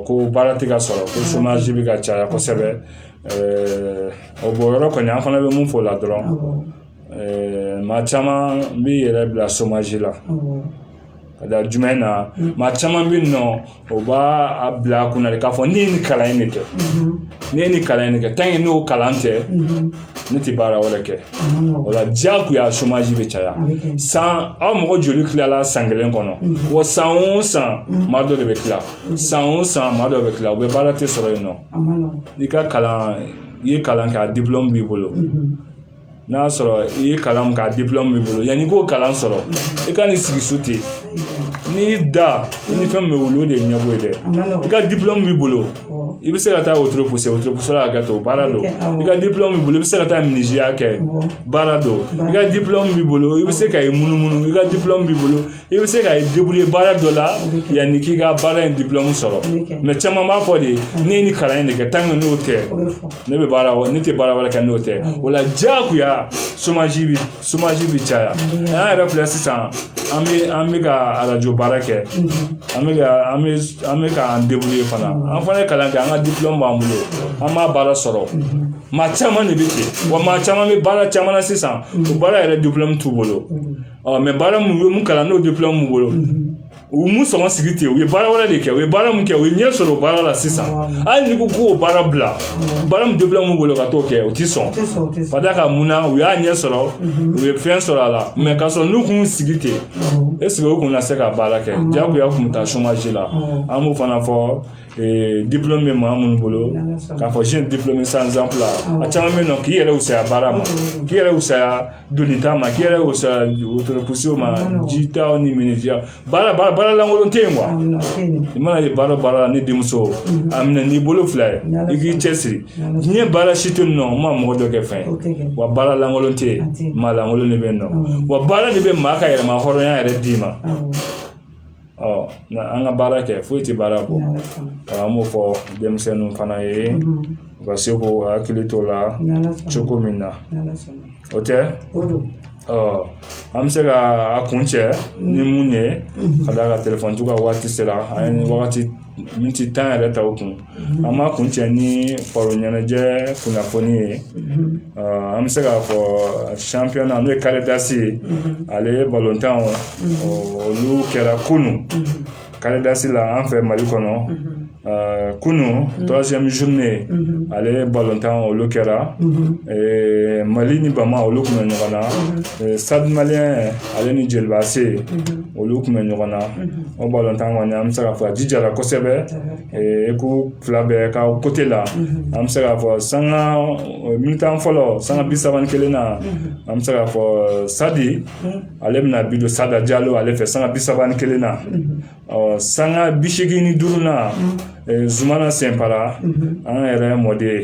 ko baara tɛ ka sɔrɔ ko somaji bɛ ka caya kosɛbɛ o bɔ yɔrɔ kɔni an fana bɛ mun fɔ o la dɔrɔn maa caman b'i yɛrɛ bila somaji la ka da jumɛn na maa caman bɛ yen nɔ o b'a a bila a kunna de k'a fɔ ne ye nin kalan in de kɛ ne ye nin kalan in de kɛ tant que n'o kalan tɛ ne tɛ baara wɛrɛ kɛ o la diyagoya somaji bɛ caya san aw mɔgɔ joli tilala san kelen kɔnɔ wa san o san maa dɔ de bɛ tila san o san maa dɔ bɛ tila u bɛɛ baara tɛ sɔrɔ yen nɔ i ka kalan i ye kalan kɛ a dipulɔmu b'i bolo n'a y'a sɔrɔ i ye kalan min kɛ a dipulɔmu b'i bolo yanni i k'o kalan sɔrɔ i ka n'i sigi so ten n'i y'i da i ni fɛn min bɛ wuli o de ye ɲɛbo ye dɛ i ka dipulɔmu b'i bolo i bɛ se ka taa wotoro gosi wotoro gosi la ka to baara don i ka dipulɔmu b'i bolo i bɛ se ka taa minisiyeya kɛ baara don i ka dipulɔmu b'i bolo i bɛ se ka i munumunu i ka dipulɔmu b'i bolo i bɛ se ka i débrouiller baara dɔ la yanni k'i ka baara in diplɔmu sɔrɔ mɛ caman b'a fɔ de ne ye nin kalan in de kɛ tant que n'o tɛ ne bɛ baara ne tɛ baara wɛrɛ kɛ n'o tɛ o la diyagoya chômage bi chômage bi caya an yɛrɛ filɛ sisan an bɛ an bɛ ka arajo baara kɛ an bɛ ka an bɛ an bɛ k'an débrouiller fana an fana ye kalan kɛ an ka diplɔmu b'an bolo an m'a baara sɔrɔ maa caman de bɛ ten wa maa caman bɛ baara caman na sisan o baara yɛrɛ diplɔmu t'u bolo mɛ baara mun ye mun kalan n'o diplɔmu b'u bolo u ma sɔn k'u sigi ten u ye baara wɛrɛ de kɛ u ye baara min kɛ u ye ɲɛ sɔrɔ o baara la sisan hali n'i ko k'o baara bila baara min diplɔmu b'u bolo ka t'o kɛ u ti sɔn ka d'a kan mun na u y'a ɲɛ sɔrɔ u ye fɛn sɔrɔ a la mɛ ka sɔrɔ n'u kun sigi ten est-ce que u kun na se ka baara kɛ diyagoya kun bɛ taa chômage la an b'o fana fɔ ee diplɔmu bɛ maa minnu bolo k'a fɔ jeune diplômé sans emploi a caman bɛ yen nɔ k'i yɛrɛ wusaya baara ma k'i yɛrɛ wusaya donita ma k'i yɛrɛ wusaya wotoro pousser ma jitaw ni menuisier baara baara lankolon tɛ yen wa i mana ye baara baara la ne denmuso a minɛ n'i bolo fila ye i k'i cɛsiri diɲɛ baara si tɛ yen nɔ n ma mɔgɔ dɔ kɛ fɛn ye wa baara lankolon tɛ yen maa lankolon de bɛ yen nɔ wa baara de bɛ maa ka yɛrɛmahɔrɔnya yɛrɛ d'i ma nka an ka baara kɛ foyi tɛ baara bɔ an b'o fɔ denmisɛnninw fana ye u ka se k'u hakili to o la cogo min na o tɛ an bɛ se ka a kuncɛ ni mun ye ka d'a kan telefɔni to ka waati sera an ye wagati miniti tan yɛrɛ ta o kun an b'a kuncɛ ni baro ɲɛnajɛ kunnafoni ye an bɛ se k'a fɔ championnat n'o ye carré d'as ye ale ye balontan olu kɛra kunun carré d'as la an fɛ mali kɔnɔ kunun troisième journée ale ye balontan olu kɛra mali ni bama olu kun bɛ ɲɔgɔn na stade malien ale ni jeliba AC olu kun bɛ ɲɔgɔn na o balontan kɔni an bɛ se k'a fɔ a jijara kosɛbɛ équipe fila bɛɛ ka côté la an bɛ se k'a fɔ sanga mi-temps fɔlɔ sanga bi saba ni kelen na an bɛ se k'a fɔ stade ale bɛna bi don sada jalo ale fɛ sanga bi saba ni kelen na ɔ sanga bi segin ni duuru na zumana senpara an yɛrɛ mɔden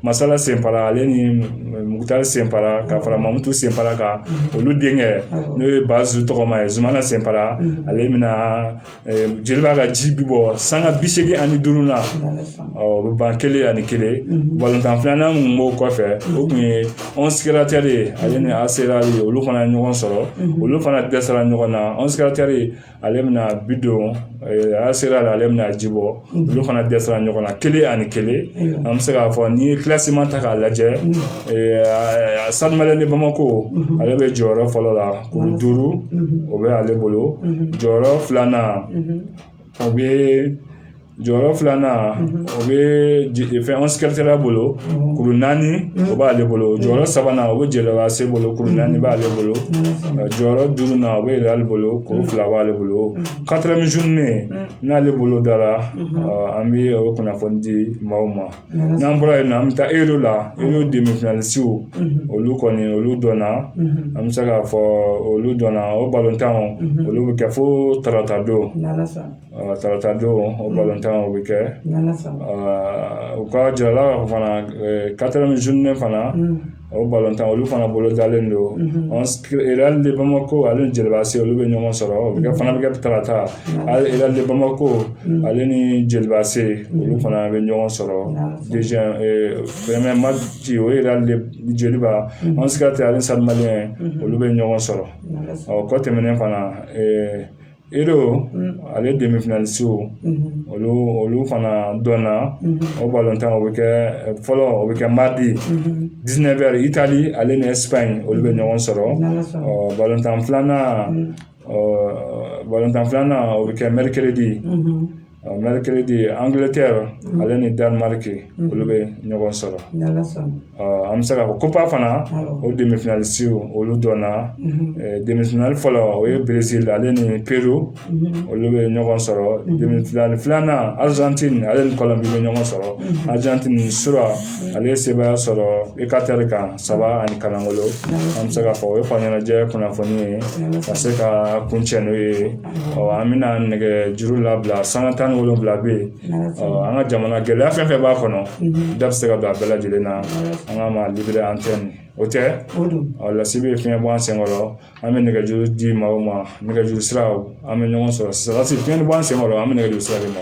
masala senpara ale ni mukutari senpara ka fara mamutu senpara kan olu denkɛ n'o ye bazu tɔgɔma ye zumana senpara ale bɛna jeliba ka ji bi bɔ sanga bi seegin ani duuru na o bɛ ban kelen ani kelen balontan filanan mun b'o kɔfɛ o kun ye onze créateurs de ye ale ni AS réal olu fana ye ɲɔgɔn sɔrɔ olu fana dɛsɛra ɲɔgɔn na onze créateurs de ale bɛna bi don AS Real la ale bɛna ji bɔ olu fana dɛsɛra ɲɔgɔn na kelen ani kelen an bɛ se k'a fɔ n'i ye kilasiman ta k'a lajɛ Stade Malien de Bamako ale bɛ jɔyɔrɔ fɔlɔ la kuru duuru o bɛ ale bolo jɔyɔrɔ filanan o bɛ jɔyɔrɔ filanan o bɛ fɛn onze créateurs bolo kuru naani o b'ale bolo jɔyɔrɔ sabanan o bɛ Djoliba AC bolo kuru naani b'ale bolo jɔyɔrɔ duurunan o bɛ Real bolo kuru fila b'ale bolo quatrième journée n'ale bolo dara an bɛ o kunnafoni di maaw ma n'an bɔra yen na an bɛ taa e la e y'o denmisɛnninsiww olu kɔni olu dɔnna an bɛ se k'a fɔ olu dɔnna o balontan olu bɛ kɛ fo tarata don tarata don o balontan o bɛ kɛ u ka jɔyɔrɔ la fana quatrième journée fana o balontan olu fana bolo dalen don Real de Bamako ale ni Djoliba AC olu bɛ ɲɔgɔn sɔrɔ o bɛ kɛ fana bɛ kɛ tarata Real de Bamako ale ni Djoliba AC olu fana bɛ ɲɔgɔn sɔrɔ premier match o ye Real de Djoliba onze créateurs ale ni Stade Malien olu bɛ ɲɔgɔn sɔrɔ ɔ kɔ tɛmɛnen fana E ale dɛmɛ fana se olu olu fana dɔnna o balon tan o bɛ kɛ fɔlɔ o bɛ kɛ madi diinɛ bɛ i taali ale ni in olu bɛ ɲɔgɔn sɔrɔ balontan filanan balontan filanan o bɛ kɛ mɛri kelen de ye mercredi Angleterre ale ni Danemark olu bɛ ɲɔgɔn sɔrɔ an bɛ se k'a fɔ Copa fana o demi-finalistes olu dɔnna demi-finale fɔlɔ o ye Brésil ale ni Pérou olu bɛ ɲɔgɔn sɔrɔ demi-finale filanan Argentine ale ni Colombie bɛ ɲɔgɔn sɔrɔ Argentine su rɔ ale ye sebaaya sɔrɔ Équateur kan saba ani lankolon an bɛ se k'a fɔ o ye fa ɲɛnajɛ kunnafoni ye ka se ka kuncɛ n'o ye an bɛna nɛgɛjuru labila sanga tan ni wolonwula bɛ yen an ka jamana gɛlɛya fɛn fɛn b'a kɔnɔ da bɛ se ka don a bɛɛ lajɛlen na an ka ma libre antenne o tɛ lasibi ye fiɲɛ bɔ an sen kɔrɔ an bɛ nɛgɛjuru di maaw ma nɛgɛjuru sira an bɛ ɲɔgɔn sɔrɔ sisan Lasi fiɲɛ bɔ an sen kɔrɔ an bɛ nɛgɛjuru sira de ma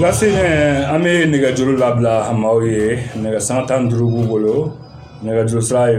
Lase an bɛ nɛgɛjuru labila maaw ye nɛgɛ sanga tan ni duuru b'u bolo nɛgɛjuru sira ye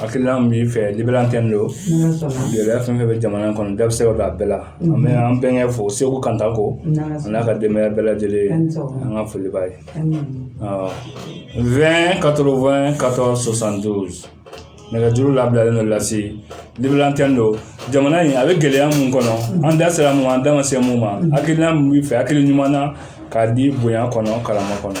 hakilina min b'i fɛ libre antenne don gɛlɛya fɛn fɛn bɛ jamana in kɔnɔ da bɛ se ka don a bɛɛ la an bɛ an bɛnkɛ fo seku kantako n'a ka denbaya bɛɛ lajɛlen an ka foli b'a ye vingt quatre-vingt quatorze soixante-douze nɛgɛjuru labilalen don lasi libre antenne don jamana in a bɛ gɛlɛya mun kɔnɔ an da sera mun an da ma se mun ma hakilina min b'i fɛ hakili ɲuman na k'a di bonya kɔnɔ karama kɔnɔ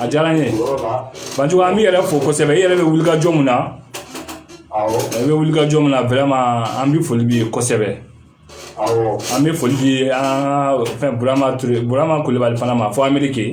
a diyara n ye banjugu an b'i yɛrɛ fo kosɛbɛ i yɛrɛ bɛ wuli ka jɔ mun na i bɛ wuli ka jɔ mun na vraiment an bɛ foli b'i ye kosɛbɛ an bɛ foli di an ka fɛn burama kulubali fana ma fo ameriki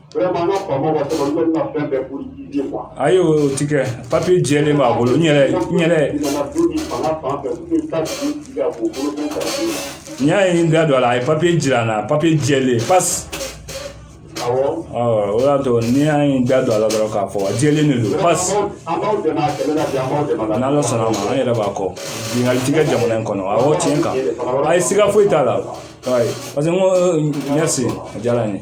Ayi o tɛ kɛ papier jɛlen b'a bolo n yɛrɛ n yɛrɛ n y'a ye da don a la a ye papier jira n na papier jɛlen pasi o y'a to n'i y'a ye da don a la dɔrɔn k'a fɔ a jɛlen de don pasi n'ala sɔnna an yɛrɛ b'a kɔ ɲininkali tɛ kɛ jamana in kɔnɔ a tiɲɛ kan ayi siga foyi t'a la parce que n ko merci a diyara n ye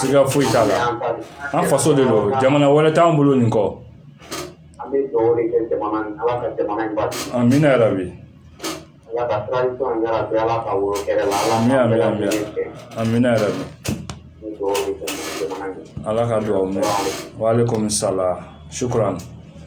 siga foyi t'a la an faso de don jamana wɛrɛ t'an bolo nin kɔ amina yarabi amina yarabi ala ka dugawu minɛ wa alaikum salam sukuran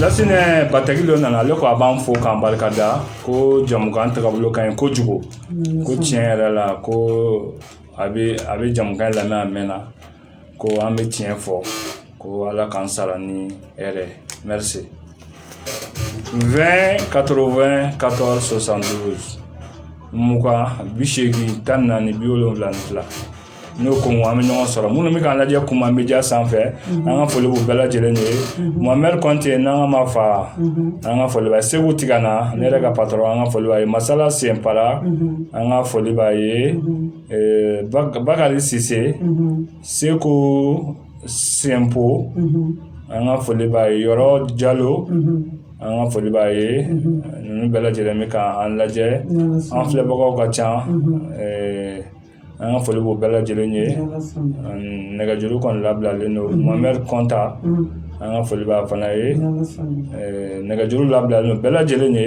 Lasinɛ bataki dɔ nana ale ko a b'an fo k'an barika da ko jamukan tagabolo ka ɲi kojugu ko tiɲɛ yɛrɛ la ko a bɛ a bɛ jamukan lamɛn a mɛnna ko an bɛ tiɲɛ fɔ ko ala k'an sara ni hɛrɛ merci vingt quatre-vingt quatorze soixante-douze mugan bi seegin tan ni naani bi wolonwula ni fila n'o ko an bɛ ɲɔgɔn sɔrɔ minnu bɛ k'an lajɛ kuma media sanfɛ an ka foli b'u bɛɛ lajɛlen ye mamari kɔnte n'an ka ma fa an ka foli b'a ye seku tigana ne yɛrɛ ka patron an ka foli b'a ye masala senpara an ka foli b'a ye bakari sise seko senpo an ka foli b'a ye yɔrɔ jalo an ka foli b'a ye ninnu bɛɛ lajɛlen bɛ k'an lajɛ an filɛbagaw ka ca an ka foli b'u bɛɛ lajɛlen ye nɛgɛjuru kɔni labilalen don mamari kɔnta an ka foli b'a fana ye nɛgɛjuru labilalen don bɛɛ lajɛlen ye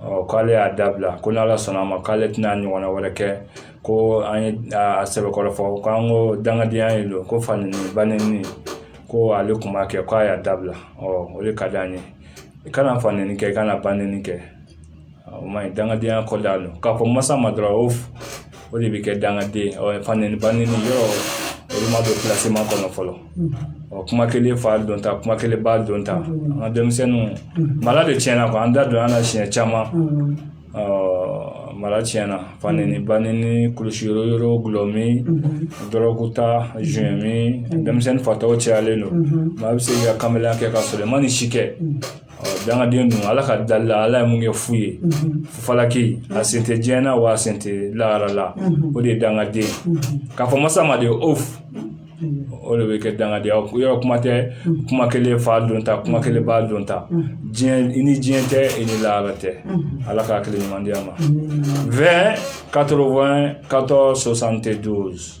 ɔ k'ale y'a dabila ko n'ala sɔnna a ma k'ale tɛna ɲɔgɔnna wɛrɛ kɛ ko an ye a sɛbɛkɔrɔ fɔ k'an ko dangadenya ye don ko faneni baneni ko ale tun b'a kɛ k'a y'a dabila ɔ o de ka di an ye i kana faneni kɛ i kana baneni kɛ o ma ɲi dangadenya kɔ da don k'a fɔ masa ma dɔrɔn o o de bɛ kɛ dangaden ye faneni baneni yɔrɔ olu ma don classement kɔnɔ fɔlɔ ɔ kuma kelen fa dɔn ta kuma kelen ba dɔn ta an ka denmisɛnninw mara de tiɲɛna quoi an da don an na siɲɛ caman mara tiɲɛna faneni baneni kulusi yɔrɔ dɔlɔmin dɔrɔguta joint min denmisɛnnin fatɔw cayalen don maa bɛ se k'i ka kamalenya kɛ ka sɔrɔ i ma nin si kɛ dangaden ninnu ala ka dali la ala ye mun kɛ fu ye falaki a sen tɛ diɲɛ na wa a sen tɛ lahara la o de ye dangaden k'a fɔ masa ma de o o de bɛ kɛ dangadenya yɔrɔ kuma tɛ kuma kelen fa don ta kuma kelen ba don ta diɲɛ i ni diɲɛ tɛ i ni lahara tɛ ala ka hakili ɲuman di a ma vingt quatre vingt quatorze soixante douze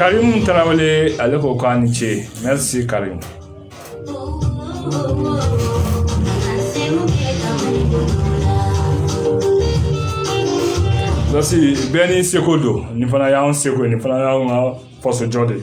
Karim Tarawele ale ko k'a ni ce merci Karim Merci bɛɛ n'i seko don nin fana y'an seko ye nin fana y'anw ka faso jɔ de ye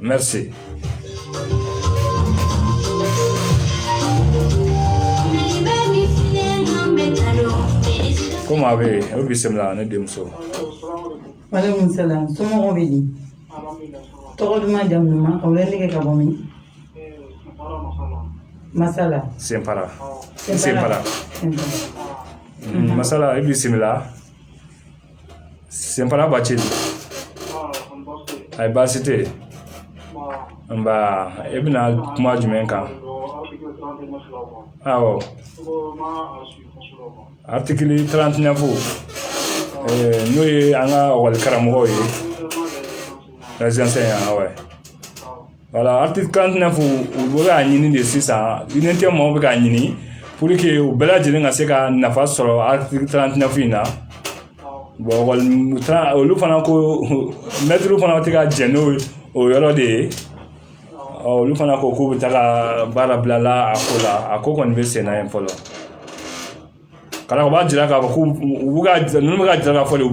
merci ko maa bɛ yen o bisimila ne denmuso waalaikum salam somɔgɔw bɛ di tɔgɔ duman jamu duman o bɛ wele ka bɔ min masala sinpara sinpara masala i bisimila sinpara bacili ayi baasi tɛ yen nba e bɛna kuma jumɛn kan awɔ article trente neuf n'o ye an ka ekɔli karamɔgɔw ye les enseignants awɔ voilà article trente neuf u bɛ k'a ɲini de sisan unité maaw bɛ k'a ɲini pour que u bɛɛ lajɛlen ka se ka nafa sɔrɔ article trente neuf in na bon olu fana ko mɛtiriw fana tɛ ka jɛn n'o yɔrɔ de ye olu fana ko k'u bɛ taa ka baara bila a ko la a ko kɔni bɛ senna yen fɔlɔ Ka d'a kan u b'a jira k'a fɔ ko u bɛ ka ninnu bɛ ka jira k'a fɔ de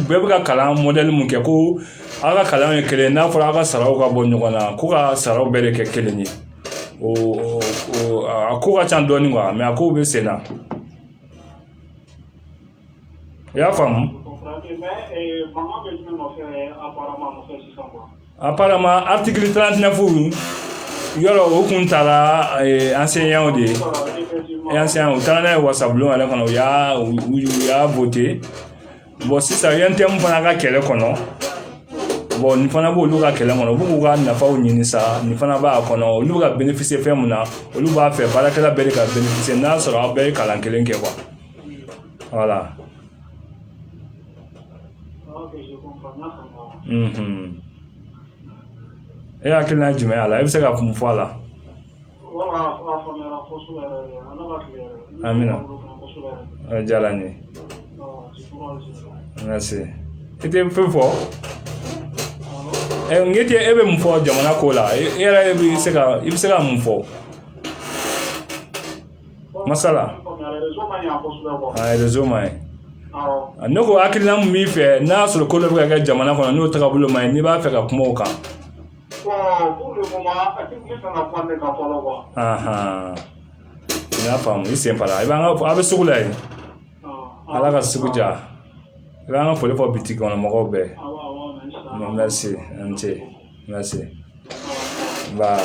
bɛɛ bɛ ka kalan mɔdɛli mun kɛ ko aw ka kalan ye kelen ye n'a fɔra aw ka saraw ka bɔ ɲɔgɔn na ko ka saraw bɛɛ de kɛ kelen ye a kow ka ca dɔɔni quoi mais a kow bɛ sen na i y'a faamu Apparemment article 39 yɔrɔ o kun taara enseignants de ye enseignants u taara n'a ye wasabulon yɛrɛ kɔnɔ u y'a u y'a voté bɔn sisan UNTM fana ka kɛlɛ kɔnɔ bɔn nin fana b' olu ka kɛlɛ kɔnɔ u b'u ka nafaw ɲini sa nin fana b'a kɔnɔ olu ka bénéficier fɛn min na olu b'a fɛ baarakɛla bɛɛ ka bénéficier n'a sɔrɔ aw bɛɛ ye kalan kelen kɛ quoi voilà E hakili la jumɛn a la i bɛ se ka mun fɔ a la Amina a diyara n ye merci i tɛ foyi fɔ n tɛ e bɛ mun fɔ jamana ko la e yɛrɛ bɛ se ka i bɛ se ka mun fɔ masala rezo ma ɲi ne ko hakilina min b'i fɛ n'a y'a sɔrɔ ko dɔ bɛ ka kɛ jamana kɔnɔ n'o tagabolo ma ɲi n'i b'a fɛ ka kuma o kan n y'a faamu i senpara i b'an ka a bɛ sugu la yen ala ka sugu diya i b'an ka foli fɔ bitigi kɔnɔ mɔgɔw bɛɛ merci an ce Merci ba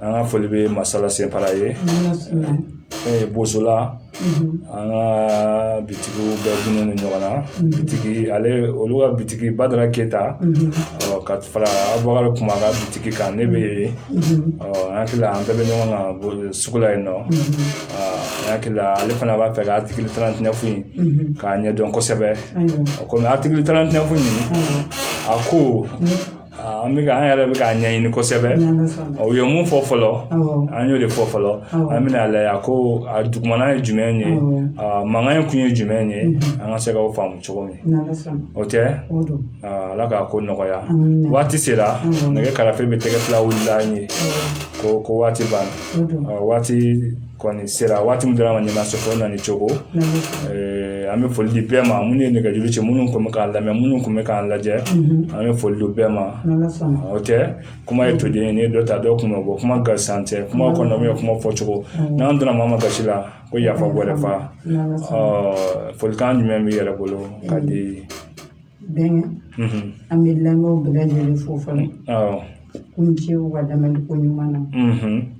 an ka foli bɛ masala senpara ye bozola an ka bitigi bɛɛ dulonnen ɲɔgɔn na bitigi ale olu ka bitigi badara keyita ka fara abubakari kuma ka bitigi kan ne bɛ yen ɔ an hakili la an bɛɛ bɛ ɲɔgɔn kan sugu la yen nɔ hakili la ale fana b'a fɛ ka article 39 k'a ɲɛdɔn kosɛbɛ o kɔmi article 39 in a ko an bɛ an yɛrɛ bɛ k'a ɲɛɲini kosɛbɛ u ye mun fɔ fɔlɔ an y'o de fɔ fɔlɔ an bɛn'a lajɛ a ko a dugumana ye jumɛn ye mankan in kun ye jumɛn ye an ka se k'o faamu cogo min o tɛ ala k'a ko nɔgɔya waati sera nɛgɛ karafe bɛ tɛgɛ fila wulila an ye ko ko waati banna waati kɔni sera waati min dira ma ɲɛna sɔrɔ na ni cogo eh, an bɛ foli di bɛɛ ma minnu ye nɛgɛjuru ci minnu tun bɛ k'an lamɛn minnu tun bɛ k'an lajɛ mhm. an bɛ foli di bɛɛ ma o tɛ kuma ye toden ye n'i ye dɔ ta dɔ kun bɛ bɔ kuma gansan tɛ kuma kɔnɔ min ye kuma fɔcogo n'an donna maa ma gasi la ko yafa wɛrɛ fa folikan jumɛn b'i yɛrɛ bolo ka di bɛnkɛ mhm. an bɛ lamɛnw bɛɛ lajɛlen fo fɔlɔ k'u ni ce u ka lamɛnni ko ɲuman na mhm.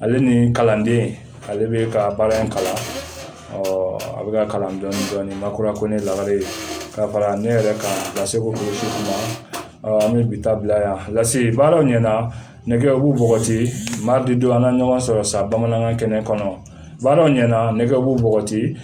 ale ni kalanden ale bɛ ka baara in kalan a bɛ ka kalan dɔɔnin dɔɔnin makura kɔnɛ lagare ka fara ne yɛrɛ kan lase ko kulusi kuma an bɛ bi ta bila yan lase baaraw ɲɛna nɛgɛw b'u bɔgɔti mardi don an na ɲɔgɔn sɔrɔ sa bamanankan kɛnɛ kɔnɔ baaraw ɲɛna nɛgɛw b'u bɔgɔti